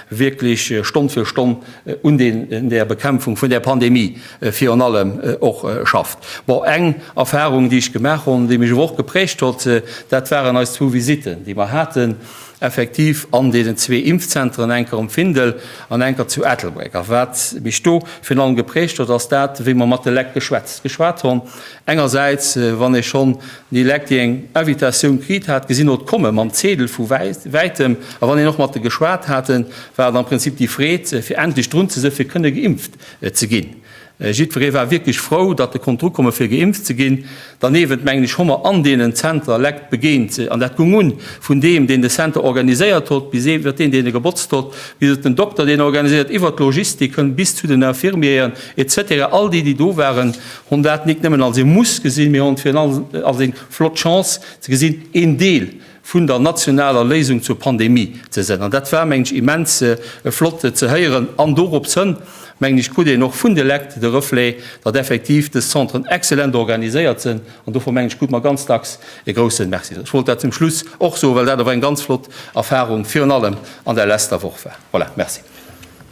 wierklech Stonn fir Stonn un där Bekämpfung vun där Pandemie virun allem och schafft. Bon, eng Erfahrung, déi ech gemaach hunn, déi mech awer och geprägt huet, dat waren eis zwou Visitten, déi mer haten, effektiv an deenen zwee Impfzentren, enker um Findel an enker zu Ettelbréck. A wat mech do virun allem geprägt huet, ass dat, wéi mer mat de Lekt geschwätzt geschwat hunn, engersäits, wann ee schonn Dee Leck, dee eng Invitatioun kriit hat, gesinn hot komme mam Zeedel vu wäitem, a wann een och mat e geschwat hat, war et am Prinzip déi Freed, fir endlech drun ze si fir kënne geimpft ze ginn. Jiddweree war wierklech frou, datt e konnt dru komme fir geimpft ze ginn. Derniewent, mengen ech, hu mer an deenen Zenter Leck begéint, an dat gung un vun deem, deen de Center organiséiert hot, bis iwwert deen, deen e gebotzt hot, bis den Dokter, deen organiséiert, iwwert d'Logistik, hënt bis zu den Infirmieren, et cetera. All déi, déi do waren, Hun dat nik nemmen als ee Muss gesinn, mee hun et virun allem als eng flott Chance ze gesinn, een Deel vun der nationaler Léisung zur Pandemie ze sen. An dat war, mengen ech, immens flott ze héieren. An dorops hënn, mengen ech, krut een och vun de Lekt de Reflet, datt effektiv des Zentren exzellent organiséiert sen. An dofir, mengen ech, krut mer ganz dacks e groussen Merci. Ech wollt dat zum Schluss och soen, well dat awer eng ganz flott Erfahrung virun allem an der leschter Woch war. Voilà, merci.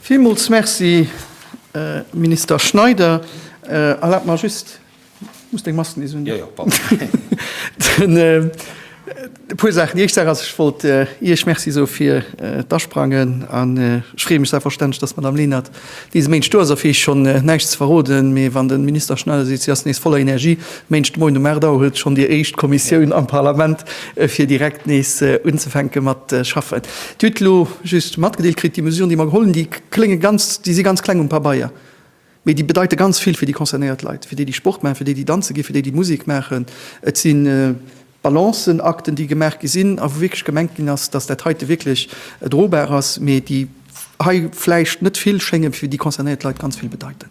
Villmools Merci, Minister Schneider. Erlaabt mer just, ech muss deng Mask nees undoen. Jo, jo, pardon. E puer Saachen. Déi éischt Saach ass, ech wollt Iech Merci soe fir d'Asprangen. An ech freeë mech selbstverständlech, dass d'Madamm Lenert dese Méindeg do ass. A fir Iech schonn näischt ze verroden, mee wann de Minister Schneider seet, si ass nees voller Energie, Méint Moien um 8 Auer huet schonn déi éischt Kommissioun am Parlament fir direkt nees unzefänke mat schaffen. Dir hutt elo just matgedeelt kritt, déi Mesuren déi mer geholl hunn, déi klénge ganz, déi si ganz kleng um Pabeier, mee déi bedeite ganz vill fir déi concernéiert Leit, fir déi déi Sport maachen, fir déi déi danze ginn, fir déi déi Musek maachen. Et si Balancen, Akten déi gemaach gi sinn a wou wierklech gemengt ginn ass, datt dat heite wierklech drobar ass, mee déi hei vläicht net vill schéngen, fir déi concernéiert Leit ganz vill bedeiten.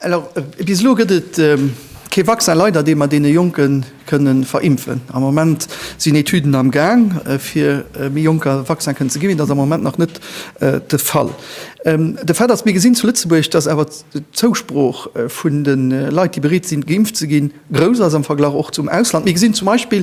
Alors, bis elo gëtt et kee Vaccin, leider, dee mer deene Jonke kënne verimpfen. Am Moment sinn Etüden am Gaang, fir méi Jonker e Vaccin kënnen ze ginn, mee dat ass am Moment nach net de Fall. De Fait ass, mir gesinn zu Lëtzebuerg, dass awer d'Zousprooch vun de Leit, déi bereet sinn, geimpft ze ginn, grouss ass am Verglach och zum Ausland. Mir gesinn zum Beispill,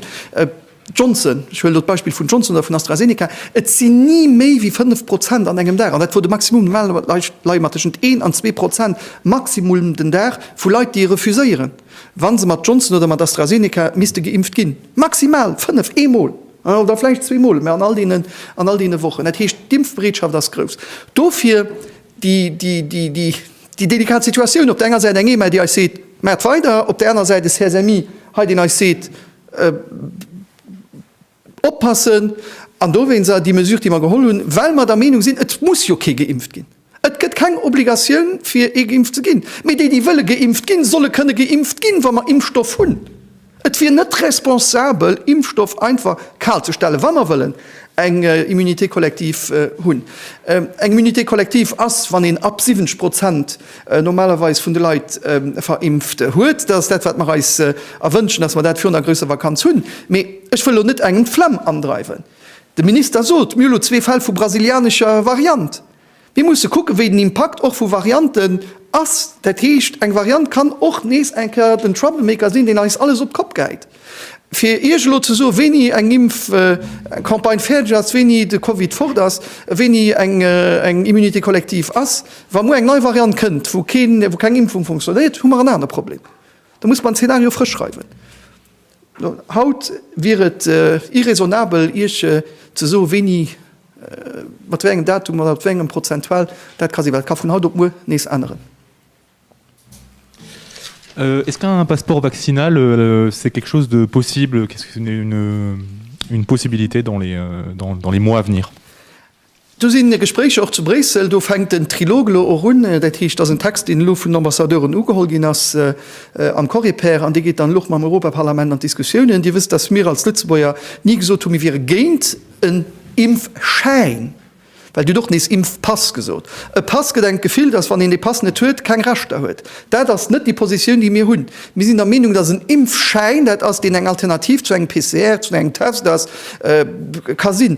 Johnson, ech huelen do d'Beispill vun Johnson oder vun AstraZeneca, et sinn ni méi wéi 5 Prozent an engem Dag, an dat wor de Maximum, normalerweis leie mer tëschent 1 an 2 Prozent Maximum den Dag vu Leit, déi e refuséieren, wa se mat Johnson oder mat AstraZeneca misste geimpft ginn. Maximal 5, eemol oder vläicht zweemol, mä an all deene Wochen. Dat heescht, d'Impfbereetschaft ass grouss. Dofir. déi delikat Situatioun, op der enger Säit eng EMA, déi eis seet, Maacht weider, op der anerer Säit e CSMI hei, deen eis seet, Oppassen! An dowéinst déi Mesure, déi mer geholl hunn, well mer der Meenung sinn, Et muss jo kee geimpft ginn. Et gëtt keng Obligatioun, fir ee geimpft ze ginn. Mee déi, déi wëlle geimpft ginn, solle kënne geimpft ginn, wa mer Impfstoff hunn. Et wier net responsabel, Impfstoff einfach kal ze stellen, wa mer wëllen eng Immunité collective hunn. Eng Immunité collective ass, wann een ab 70 Prozent normalerweis vun de Leit verimpft huet. Dat ass dat, wat mer eis erwënschen, dass mer dat virun der grousser Vakanz hunn. Mee ech wëll elo net engem d'Flemm andreiwen. De Minister sot, Mir hu lo zwee Fäll vu brasilianescher Variant. Mir musse kucken, wéi den Impakt och vu Varianten ass. Dat heescht, eng Variant kann och nees eng Kéier den Troublemaker sinn, deen eis alles op d'Kopp geheit. Fir Iech elo ze soen, wéini eng Impfcampagne fäerdeg ass, wéini de Covid fort ass, wéini eng Immunité collective ass, wa muer eng nei Variant kënnt, wou keng Impfung funktionéiert, hu mer en anere Problem. Da muss mer en Zeenario frësch schreiwen. Haut wier et irraisonnabel, Iech ze soen, wéini, mat wéi engem Datum oder mat wéi engem Prozentual dat ka sinn, well dat ka vun haut op muer nees änneren. Est-ce qu'un passeport vaccinal c'est quelque chose de possible, qu'est-ce qu'une possibilité dans les mois à venir? Do sinn Gespréicher och zu Bréissel. Do fänkt den Trilog elo och un. Dat heescht, et ass en Text, deen elo vun den Ambassadeuren ugeholl ginn ass am Coreper. An dee geet dann elo och mam Europaparlament an d'Diskussiounen. Dir wësst, datt mir als Lëtzebuerger ni gesot hunn, mir wiere géint en Impfschäin, well Dir hutt och nees Impfpass gesot. E Pass gëtt engem d'Gefill, datt, wann een dee Pass net huet, keng Rechter huet. Dat ass net déi Positioun, déi mir hunn. Mir sinn der Meenung, datt en Impfschäin dat ass, deen eng Alternativ zu engem PCR, zu engem Test ass, ka sinn.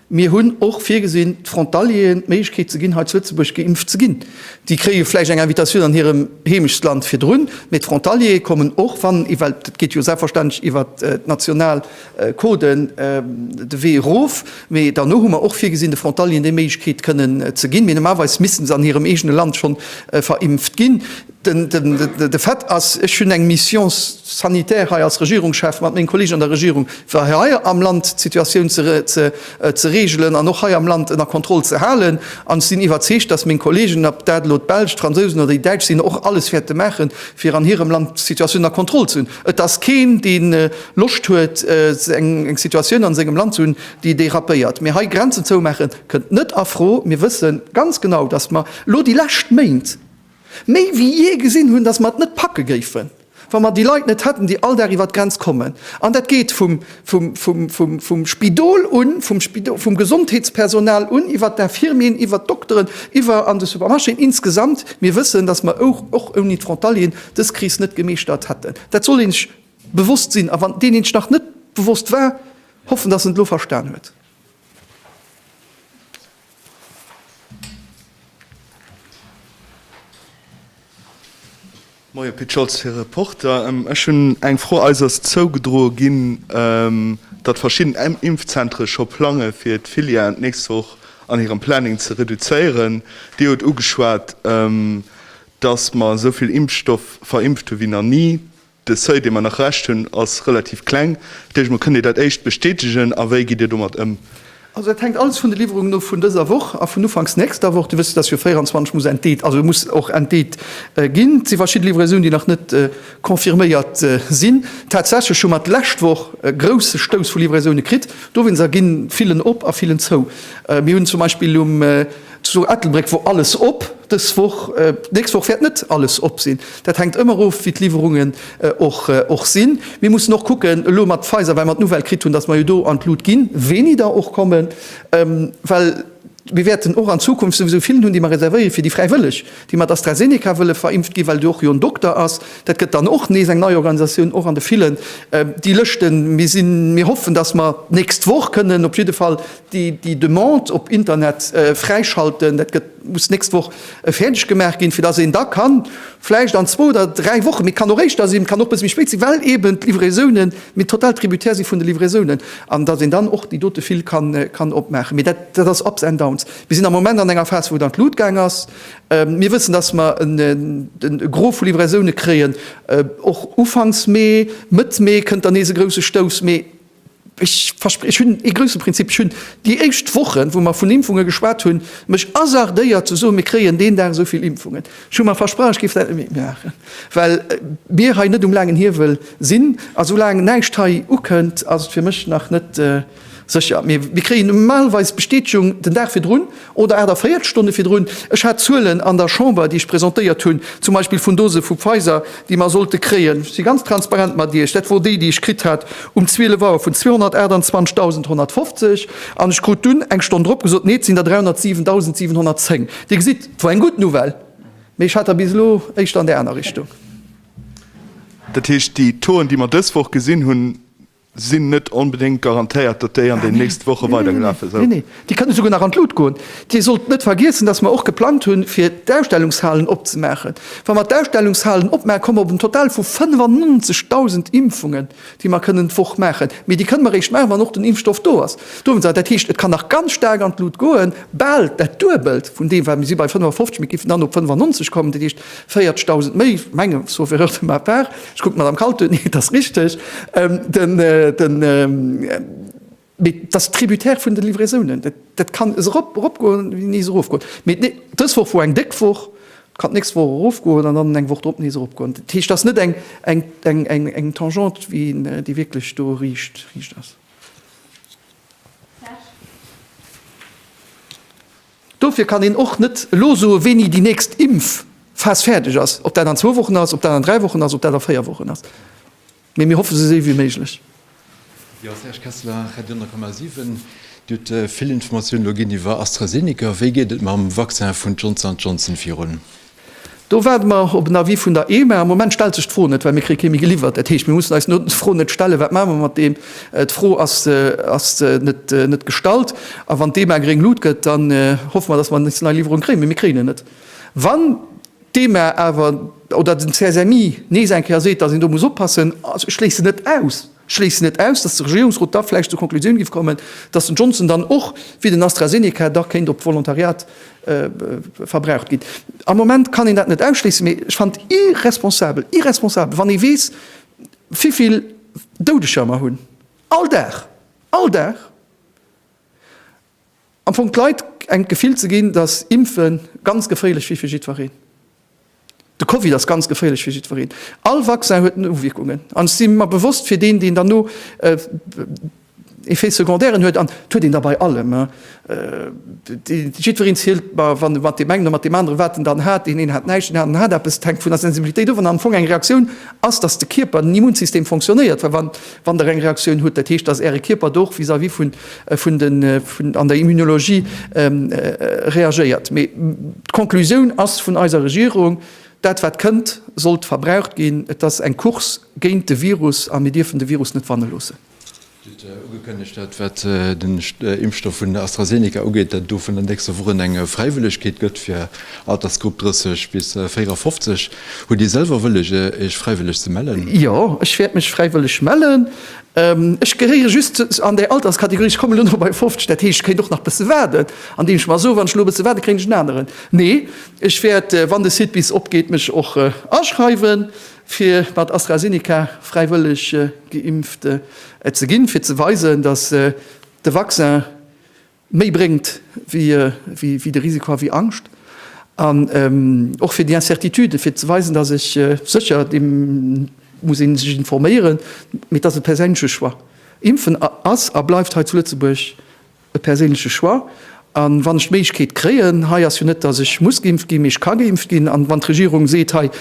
Mir hunn och virgesinn, d'Frontalieren d'Méiglechkeet ze ginn, hei zu Lëtzebuerg geimpft ze ginn. Déi kréie vläicht eng Invitatioun an hirem Heemechtsland virdrun, mee d'Frontaliere kommen och, wann, well et geet jo selbstverständlech iwwer d'national Coden de Wee erof, mee derno hu mer och virgesinn, de Frontalieren déi Méiglechkeet kënnen ze ginn, mee normalerweis missten se an hirem eegene Land schonn verimpft ginn. De Fait ass, ech hunn eng Mission sanitaire hei als Regierungschef mat menge Kolleegen an der Regierung, fir hei am Land d'Situatioun ze regelen an och hei am Land ënner Kontroll ze halen. An ech sinn iwwerzeegt, datt meng Kolleegen, ob dat elo d'Belsch, d'Fransousen oder déi Däitsch sinn, och alles wäerte maache fir an hirem Land d'Situatioun ënner Kontroll ze hunn. Et ass keen, dee Loscht huet, eng Situatioun a sengem Land ze hunn, déi dérapéiert. Mee hei Grenzen zoumaache kënnt net a Fro. Mir wësse ganz genau, datt mer elo déi lescht Méint, méi wéi jee gesinn hunn, dass mer et net packe géifen, wa mer déi Leit net hätten, déi all Dag iwwert d'Grenz kommen. An dat geet vum Spidol un, vum Gesondheetspersonal un, iwwert d'Infirmieren, iwwert d'Dokteren, iwwer an de Supermarchéen insgesamt. Mir wëssen, dass mer och ouni d'Frontalieren dës Kris net gemeeschtert hätten. Dat soll ee sech bewosst sinn. A wann deen ee sech nach net bewosst war, hoffen, dass en et elo verstan huet. Moie Pit Scholz, fir Reporter. Ech hunn eng Fro. Eis ass zougedroe ginn, datt verschidden Impfzentere scho plange fir d'Filieren d'nächst Woch an hirem Planning ze reduzéieren. Dir hutt ugeschwat, datt mer esou vill Impfstoff verimpft hu wéi nach ni. De Seuil, dee mer nach Rescht hunn, ass relativ kleng. Dat heescht, mer kënnen Dir dat éischt bestätegen. A wéi gitt Dir domat ëm? Also dat hänkt alles vun de Liwwerungen of vun dëser Woch a vun ufanks nächster Woch. Dir wësst, dass jo 24 muss entdeet, also muss och entdeet ginn. Et si verschidde Livraisonen, déi nach net confirméiert sinn. Tatsächlech hu mer d'lescht Woch e grousse Stouss vu Livraisone kritt. Dowéinst erginn d'Fillen op a d'Fillen zou. Mir hunn zum Beispill um Zu Ettelbréck wor alles op dës Woch. D'nächst Woch wäert net alles op sinn. Dat hänkt ëmmer of, wéi d'Liwwerungen och sinn. Mir mussen och kucken, elo mat Pfizer, well mer d'Nouvelle kritt hunn, datt mer jo do an d'Lut ginn, wéini der och kommen. Well mir wäerten och an Zukunft souwisou villen hunn, déi mer reservéiere fir déi Fräiwëlleg, déi mat AstraZeneca wëlle verimpft ginn, well do och jo en Dokter ass. Dat gëtt dann och nees eng nei Organisatioun, och an de villen, déi Lëschten. Mir hoffen, datt mer d'nächst Woch kënnen op jidde Fall Déi Demande op Internet fräischalten, dat gëtt, muss d'nächst Woch fäerdeg gemaach ginn, fir datt een da kann, vläicht an zwou oder dräi Wochen, mee kann och éischter sinn, kann och e bësse méi spéit sinn, well eeben d'Livraisonen, mir total tributaire si vun de Livraisonen, an datt een dann och déi dote Fil kann opmaachen. Mee dat ass ups and downs. Mir sinn am Moment an enger Phas, wou et an d'Lut gaang ass. Mir wëssen, datt mer e Gros vu Livraisone kréien, och Ufanks Mee, Mëtt Mee kënnt dann nees e grousse Stouss. Mee. Ech verspre ech hunn ee grousse Prinzip. Ech hunn déi éischt Wochen, wou mer vun Impfunge geschwat hunn, mech hasardéiert ze soen, mir kréien deen Dag esou vill Impfungen. Ech hu mer versprach, ech géif dat net méi maachen, well mir hei net um laangen Hiewel sinn. A soulaang näischt hei ukënnt, ass et fir mech nach net sécher. Mee mir kréien normalerweis d'Bestätegung den Dag virdrun. Oder 48 Stonne virdrun. Ech hat Zuelen an der Chamber, déi ech presentéiert hunn, zum Beispill vun Dose vu Pfizer, déi mer sollte kréien, ech si ganz transparent mat Iech, dat wor déi, déi ech kritt hat um 12 Auer, vun 228.150. An ech krut dunn eng Stonn drop gesot, Nee, et sinn der 307.710. Dir gesitt, et wor eng gutt Nouvelle, mee ech hat der bis elo éischter an där aner Richtung. Dat heescht, déi Toen, déi mer dës Woch gesinn hunn, Sinn net onbedéngt garantéiert, datt déi an den nächste Woche weidergelafe sou. Nee, nee, nee. Déi kënne souguer nach an d'Lut goen. Dir sollt net vergiessen, datt mer och geplangt hunn, fir d'Ausstellungshalen opzemaachen. Wa mer d'Ausstellungshalen opmaachen, komme mer op en Total vu 95.000 Impfungen, déi mer kënnen d'Woch maachen. Mee déi kënne mer eréischt maachen, wann och den Impfstoff do ass. Dowéinst awer, dat heescht, et kann nach ganz staark an d'Lut goen, bal dat Duebelt vun deem, wat mir si bei 55, mir géifen dann op 95 kommen. Dat heescht, 40 dausend méi menge sauf erreur de ma part, ech kucken d'Madame Kautz un, et ass richteg, mee et ass tributaire vun de Livraisounen. Dat kann es erop eropgoen wéi nees erofgoen. Mee dës Woch wor eng déck Woch, et kann d'nächst Woch erofgoen an dann eng Woch drop nees eropgoen. Dat heescht, et ass net eng Tangente wéi een, déi wierklech do riicht ass. Serge. Dofir kann een och net elo soen, wéini déi nächst Impfphas fäerdeg ass, ob dat an zwou Wochen ass, ob dat an dräi Wochen ass, ob dat a véier Wochen ass, mee mir hoffe sou séi wéi méiglech. Jo, Serge Kessler, Radio 10,7. Dir hutt vill Informatiounen elo ginn iwwer AstraZeneca. Wéi geet et mam Vaccin vun Johnson an Johnson virun? Do waarde mer op en Avis vun der EMA. Am Moment stellt sech d'Fro net, well mir kréie kee méi geliwwert. Dat heescht, mir mussen eis no d'Fro net stellen, wat maache mer mat deem. D'Fro ass net gestallt. A wann d'EMA gréng Lut gëtt, dann hoffe mer, datt mer nächst nei Liwwerung kréien. Mee mir kréien en net. Wann d'EMA awer oder den CSMI nees eng Kéier seet, datt een do muss oppassen, ech schléissen net aus, schléissen net aus, datt de Regierungsrot da vläicht zur Konklusioun géif kommen, datt den Johnson dann och, wéi den AstraZeneca, da kéint op Volontariat verbraucht ginn. Am Moment kann een dat net ausschléissen, mee ech fannen et irresponsabel, irresponsabel, wann ee weess, wivill Doudeger mer hunn all Dag, all Dag! Am Fong d'Leit eng d'Gefill ze ginn, dass Impfe ganz geféierlech wier fir jiddwereen. De Covid ass ganz geféierlech fir jiddwereen. All Vaccin huet Nowierkungen. An ech si mer bewosst, fir deen, deen dann no Effets secondaires huet, an et huet een der bei allem, jiddwereen zielt mat deem engen oder mat deem aneren, wat en dann hat, deen een hat näischt, deen aneren hat eppes, et hänkt vun der Sensibilitéit of, an am Fong eng Reaktioun ass, dass de Kierper, den Immunsystem fonctionnéiert, well wann. Wann der eng Reaktioun hutt, dat heescht, dass Äre Kierper do och vis-à-vis vun, vun den, vun, an der Immunologie reagéiert. Mee d'Conclusioun ass vun eiser Regierung, Dat wat kënnt, sollt verbraucht ginn. Et ass eng Course géint de Virus a mir dierfen de Virus net wanne loossen. Dir hutt ugekënnegt, dat wat den Impfstoff vun AstraZeneca ugeet, dat et do vun der nächster Woch un eng Fräiwëllegkeet gëtt fir Altersgrupp 30 bis 54. Hutt Dir selwer wëlleg, Iech fräiwëlleg ze mellen? Jo, ech wäert mech fräiwëlleg mellen. Ech gehéiere just an där Alterskategorie, ech kommen elo nach bei 50, dat heescht, ech kéint och nach bësse waarden, andeem ech mer soen, wann ech elo e bësse waarde kréien ech en aneren. Nee, ech wäert, wann de Site bis opgeet, mech och aschreiwen, fir mat AstraZeneca fräiwëlleg geimpft ze ginn, fir ze weisen, datt de Vaccin, méi bréngt wéi de Risiko a wéi Angscht, an och fir déi Incertitude, fir ze weisen, dass ech sécher, et muss ee sech informéieren, mee et ass e perséinleche Choix. Impfen ass a bleift hei zu Lëtzebuerg e perséinleche Choix. A wann ech d'Méiglechkeet kréien, hei ass jo net, dass ech muss geimpft ginn, mee ech ka geimpft ginn, an wann d'Regierung seet, hei,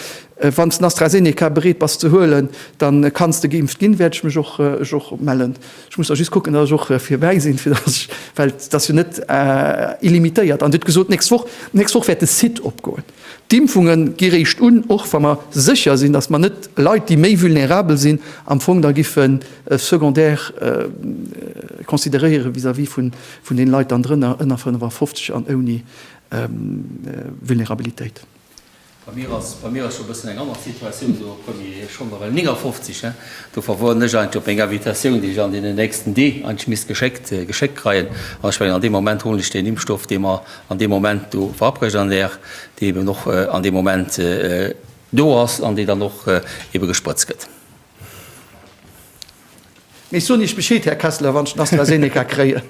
wann s den AstraZeneca bereet bass ze huelen, da kanns de geimpft ginn, wäert ech mech och mellen. Ech muss da just kucken, datt ech och virbäi sinn, fir datt ech, well et ass jo net illimitéiert. An dir hutt gesot, d'nächst Woch, d'nächst Woch wäert de Site opgoen. D'Impfunge gi réischt un, och wa mer sécher sinn, datt mer net Leit, déi méi vulnerabel sinn, am Fong da giffe secondaire consideréiere vis-à-vis vun deene Leit dann drënner, ënner 55 an ouni Vulnerabilitéit. Bei mir ass bei mir ass scho bëssen eng anner Situatioun do, Premier, ech hu mer el 59, hè, do verwuen ech eigentlech op meng Invitatioun, déi ech an deenen nächsten Dee eigentlech misst geschéckt geschéckt kreien. An ech mengen, an deem Moment huelen ech deen Impfstoff, dee mer an deem Moment do verabrecht an där, dee eben och an deem Moment do ass an dee dann och ebe gesprëtzt gëtt. Mee soen Iech Bescheed, Här Kessler, wann ech den AstraZeneca kréien.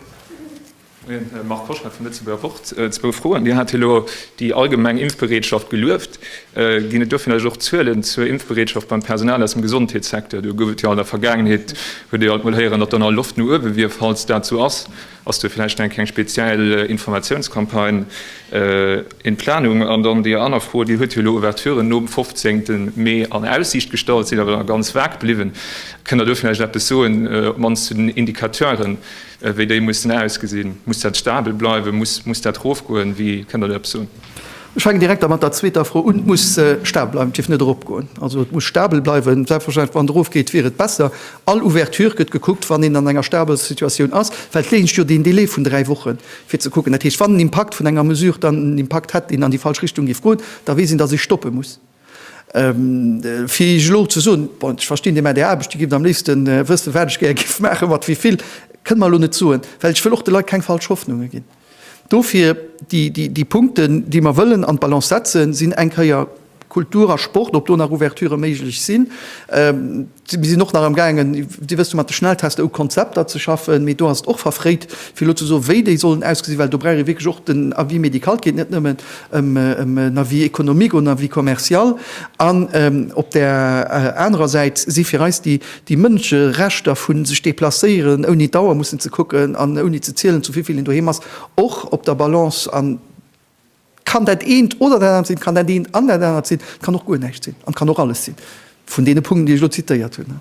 Marc Koschner vum Lëtzebuerger Wort, Zwou Froen. Dir hat elo déi allgemeng Impfbereetschaft gelueft. Ginn et do vläicht och Zuelen zur Impfbereetschaft beim Personal aus dem Gesondheetssecteur? Do gouf et jo an der Vergaangenheet, huet ee jo alt mol héieren, datt do nach Loft no uewe wier. Falls dat esou ass, ass do vläicht eng keng speziell Informatiounscampagne in Planung? An dann déi aner Fro, Dir hutt jo elo Ouverturen nom 15 Mee an Aussiicht gestallt, sinn awer nach ganz vag bliwwen. Kënnt Der do vläicht eppes soen, op d'mannst zu den Indicateuren, Wéi déi mussen ausgesinn? Muss dat stabel bleiwen? Muss dat erofgoen? Wie kënn der do eppes soen? Ech fänken direkt da mat der zweeter Fro un. Et muss stabel bleiwen, et dierf net eropgoen. Also et muss stabel bleiwen. Selbstverständlech, wann et erofgeet, wier et besser. All Ouverture gëtt gekuckt, wann een an enger stabeler Situatioun ass, well d'Géigend jo deen Delai vun dräi Woche fir ze kucken. Dat heescht, wann den Impakt vun enger Mesure dann en Impakt hätt, deen an déi falsch Richtung géif goen, da weess een, datt ee stoppe muss. Fir Iech elo ze soen, bon, ech verstinn, Dir maacht Är Aarbecht, Dir gift am léifste wëssen, wat ech gär géif maachen, mat wéivill, kënnt mer elo net soen, well ech wëll och de Leit keng falsch Hoffnunge ginn. Dofir, déi Punkten, déi mer wëllen an d'Balance setzen, sinn eng Kéier Kultur a Sport, ob do nach Ouverturë méiglech sinn, Mir sinn och nach am gaangen, Dir wësst jo, mat de Schnelltester u Konzepter ze schaffen, mee do ass et och verfréit, fir elo ze soen, wéi déi sollen ausgesinn, well do brauch ee wierklech och den Avis médical. Et geet net nëmmen ëm en Avis économique oder en Avis commercial. An op där anerer Säit si fir eis déi Mënscherechter vu sech deplacéieren, ouni dauer mussen ze kucken an ouni ze zielen, zu wivill een doheem ass, och op der Balance. An Kann dat eent oder dat anert sinn, kann dat eent an dat anert sinn, kann och guer näischt sinn an kann och alles sinn vun deene Punkten, déi ech elo zitéiert hunn.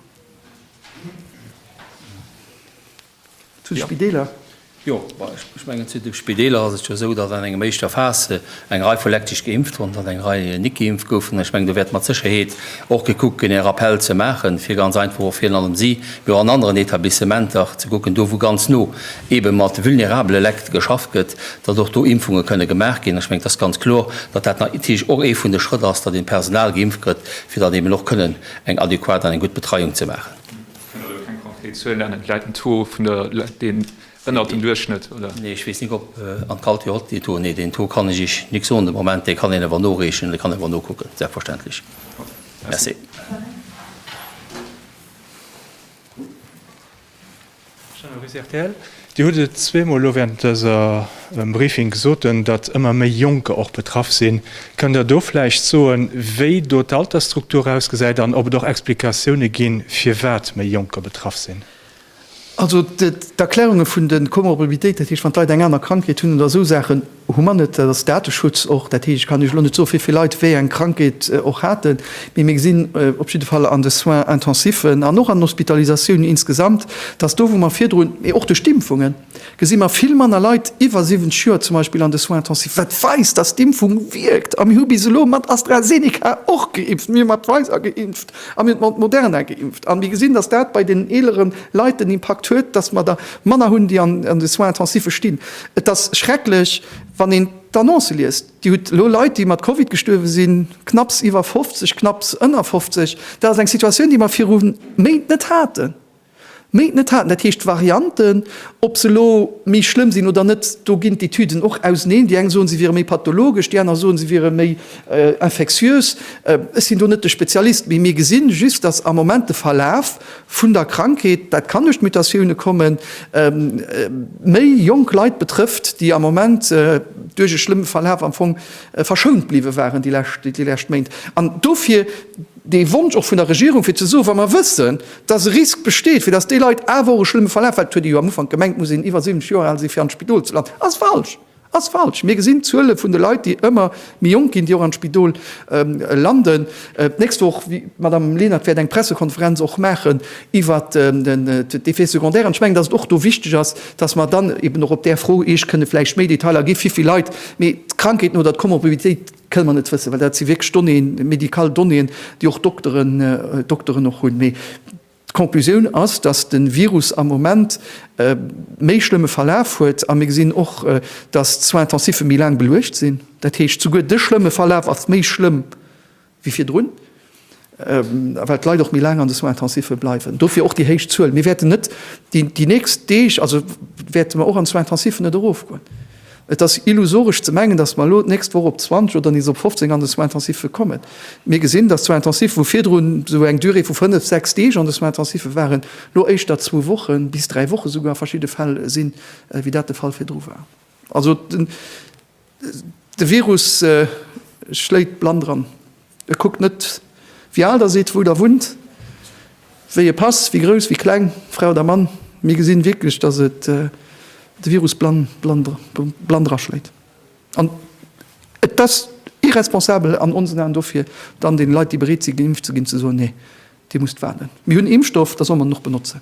Zu de Spideeler. Jo, ech mengen, zu de Spideeler ass et jo esou, datt an engem éischter Phase eng Rei vu Lekt sech geimpft hunn, datt eng Rei nik geimpft goufen. Ech mengen, do wäert mat Sécherheet och gekuckt ginn, e Rappell ze maachen, fir ganz einfach och virun allem si, mee och an aneren Etablissementer, ze kucken, do wou ganz no eebe mat vulnerabele Lekt geschafft gëtt, datt och do Impfunge kënne gemaach ginn. Ech mengen, et ass ganz kloer, datt dat natierlech och ee vun de Schrëtt ass, datt ee Personal geimpft gëtt, fir dann eben och kënnen eng adequat an eng gutt Betreiung ze maachen. Ech kënn elo keng konkret Zuel nennen. Vläit den Taux vun de Leit, deen ënnert dem Duerchschnëtt, oder? Nee, ech weess nik, ob an d'Calti och dee Taux. Nee, deen Taux kann ech Iech nik soen de Moment. Dee kann een awer noreechen, dee kann een awer nokucken, selbstverständlech. Merci. Dir hutt et zweemol elo während dësem Briefing gesot, datt ëmmer méi Jonker och betraff sinn. Kënnt Der do vläicht soen, wéi do d'Altersstruktur ausgesäit an ob et och Explikatioune ginn, firwat méi Jonker betraff sinn? Also d'Erklärunge vun de Komorbiditéiten, dat heescht wann d'Leit eng aner Krankheet hunn oder esou Saachen, Hu mer net, dat ass Dateschutz och. Dat heescht, ech kann Iech elo net soen, wéi vill Leit wéi eng Krankheet och haten, mee mir gesinn op jidde Fall an de Soins intensiven an och an den Hospitalisatiounen insgesamt, dass do, wou mer virdrun, mee och duerch d'Impfungen, gesi mer vill manner Leit iwwer 70 Joer zum Beispill an de Soins intensifs, wat weist, dass d'Impfung wierkt. A mir hu bis elo mat AstraZeneca och geimpft, mir hu mat Pfizer geimpft a mir hu mat Moderna geimpft. A mir gesinn, dass dat bei deenen eelere Leit den Impakt huet, dass mer der manner hunn, déi an de Soins intensive stinn. Et ass schrecklech, wann een d'Annoncë liest. Dir hutt elo Leit, déi mat Covid gestuerwe sinn, knapps iwwer 50, knapps ënner 50. Dat ass eng Situatioun, déi mer viru Méint net haten. Méint net haten. Dat heescht, d'Varianten, ob se elo méi schlëmm sinn oder net, do ginn d'Etüden och auseneen. Déi eng soen, se wiere méi pathologesch, déi aner soen, se wiere méi infektiös. Ech sinn do net de Spezialist, mee mir gesinn just, dass am Moment de Verlaf Vun der Krankheet, dat kann duerch d'Mutatioune kommen, méi jonk Leit betrëfft, déi am Moment duerch e schlëmme Verlaf am Fong verschount bliwwe waren déi lescht Méint. An dofir dee Wonsch och vun der Regierung, fir ze soen, wa mer wëssen, dass e Risk besteet, fir dass déi Leit awer och e schlëmme Verlaf, well et huet ee jo am Ufank gemengt, muss een iwwer 70 Joer al sinn, fir an d'Spidol ze landen, ass falsch. Ass falsch. Mir gesinn d'Zuele vun de Leit, déi ëmmer méi jonk ginn, déi och an d'Spidol landen. D'nächst Woch, d'Madame Lenert wäert eng Pressekonferenz och maachen iwwer d'Effets secondaires. An ech mengen, datt et och do wichteg ass, datt mer dann eben och op där Fro Iech kënne vläicht méi Detailer gi wéi vill Leit. Mee d'Krankheeten oder d'Komorbiditéit kënne mer net wëssen, well dat si wierklech Donnéeën, médical Donnéeën, déi och Dokteren, Dokteren och hunn. D'Conclusioun ass, datt de Virus am Moment e méi schlëmme Verlaf huet a mir gesinn och, datt d'Soins-intensiffe méi laang beluecht sinn. Dat heescht, souguer de schlëmme Verlaf ass méi schlëmm wéi virdrun, well d'Leit och méi laang an de Soins-intensiffe bleiwen. Dofir och déi héich Zuel. Mir wäerten net déi nächst Deeg, also wäerte mer och an d'Soins-intensiffen net erofgoen. Et ass illusoresch ze mengen, datt mer elo d'nächst Woch op 20 oder nees op 15 an de Soins intensiffe kommen. Mir gesinn, datt d'Soins intensiffe, wou virdrun esou eng Durée vu fënnef, sechs Deeg an de Soins intensiffe waren, elo éischter zwou Wochen, bis dräi Woche souguer a verschidde Fäll sinn, wéi dat de Fall virdru war. Also de Virus schléit blann dran. Et kuckt net, wéi al der sidd, wou der wunnt, wéi e Pass, wéi grouss, wéi kleng, Fra oder Mann. Mir gesinn wierklech, dass et de Virus blann draschléit. An et ass irresponsabel an onsen Aen dofir dann den Leit, déi bereet sinn geimpft ze ginn, ze soen, Nee, dir musst waarden, mir hunn Impfstoff, da soll mer den och benotzen.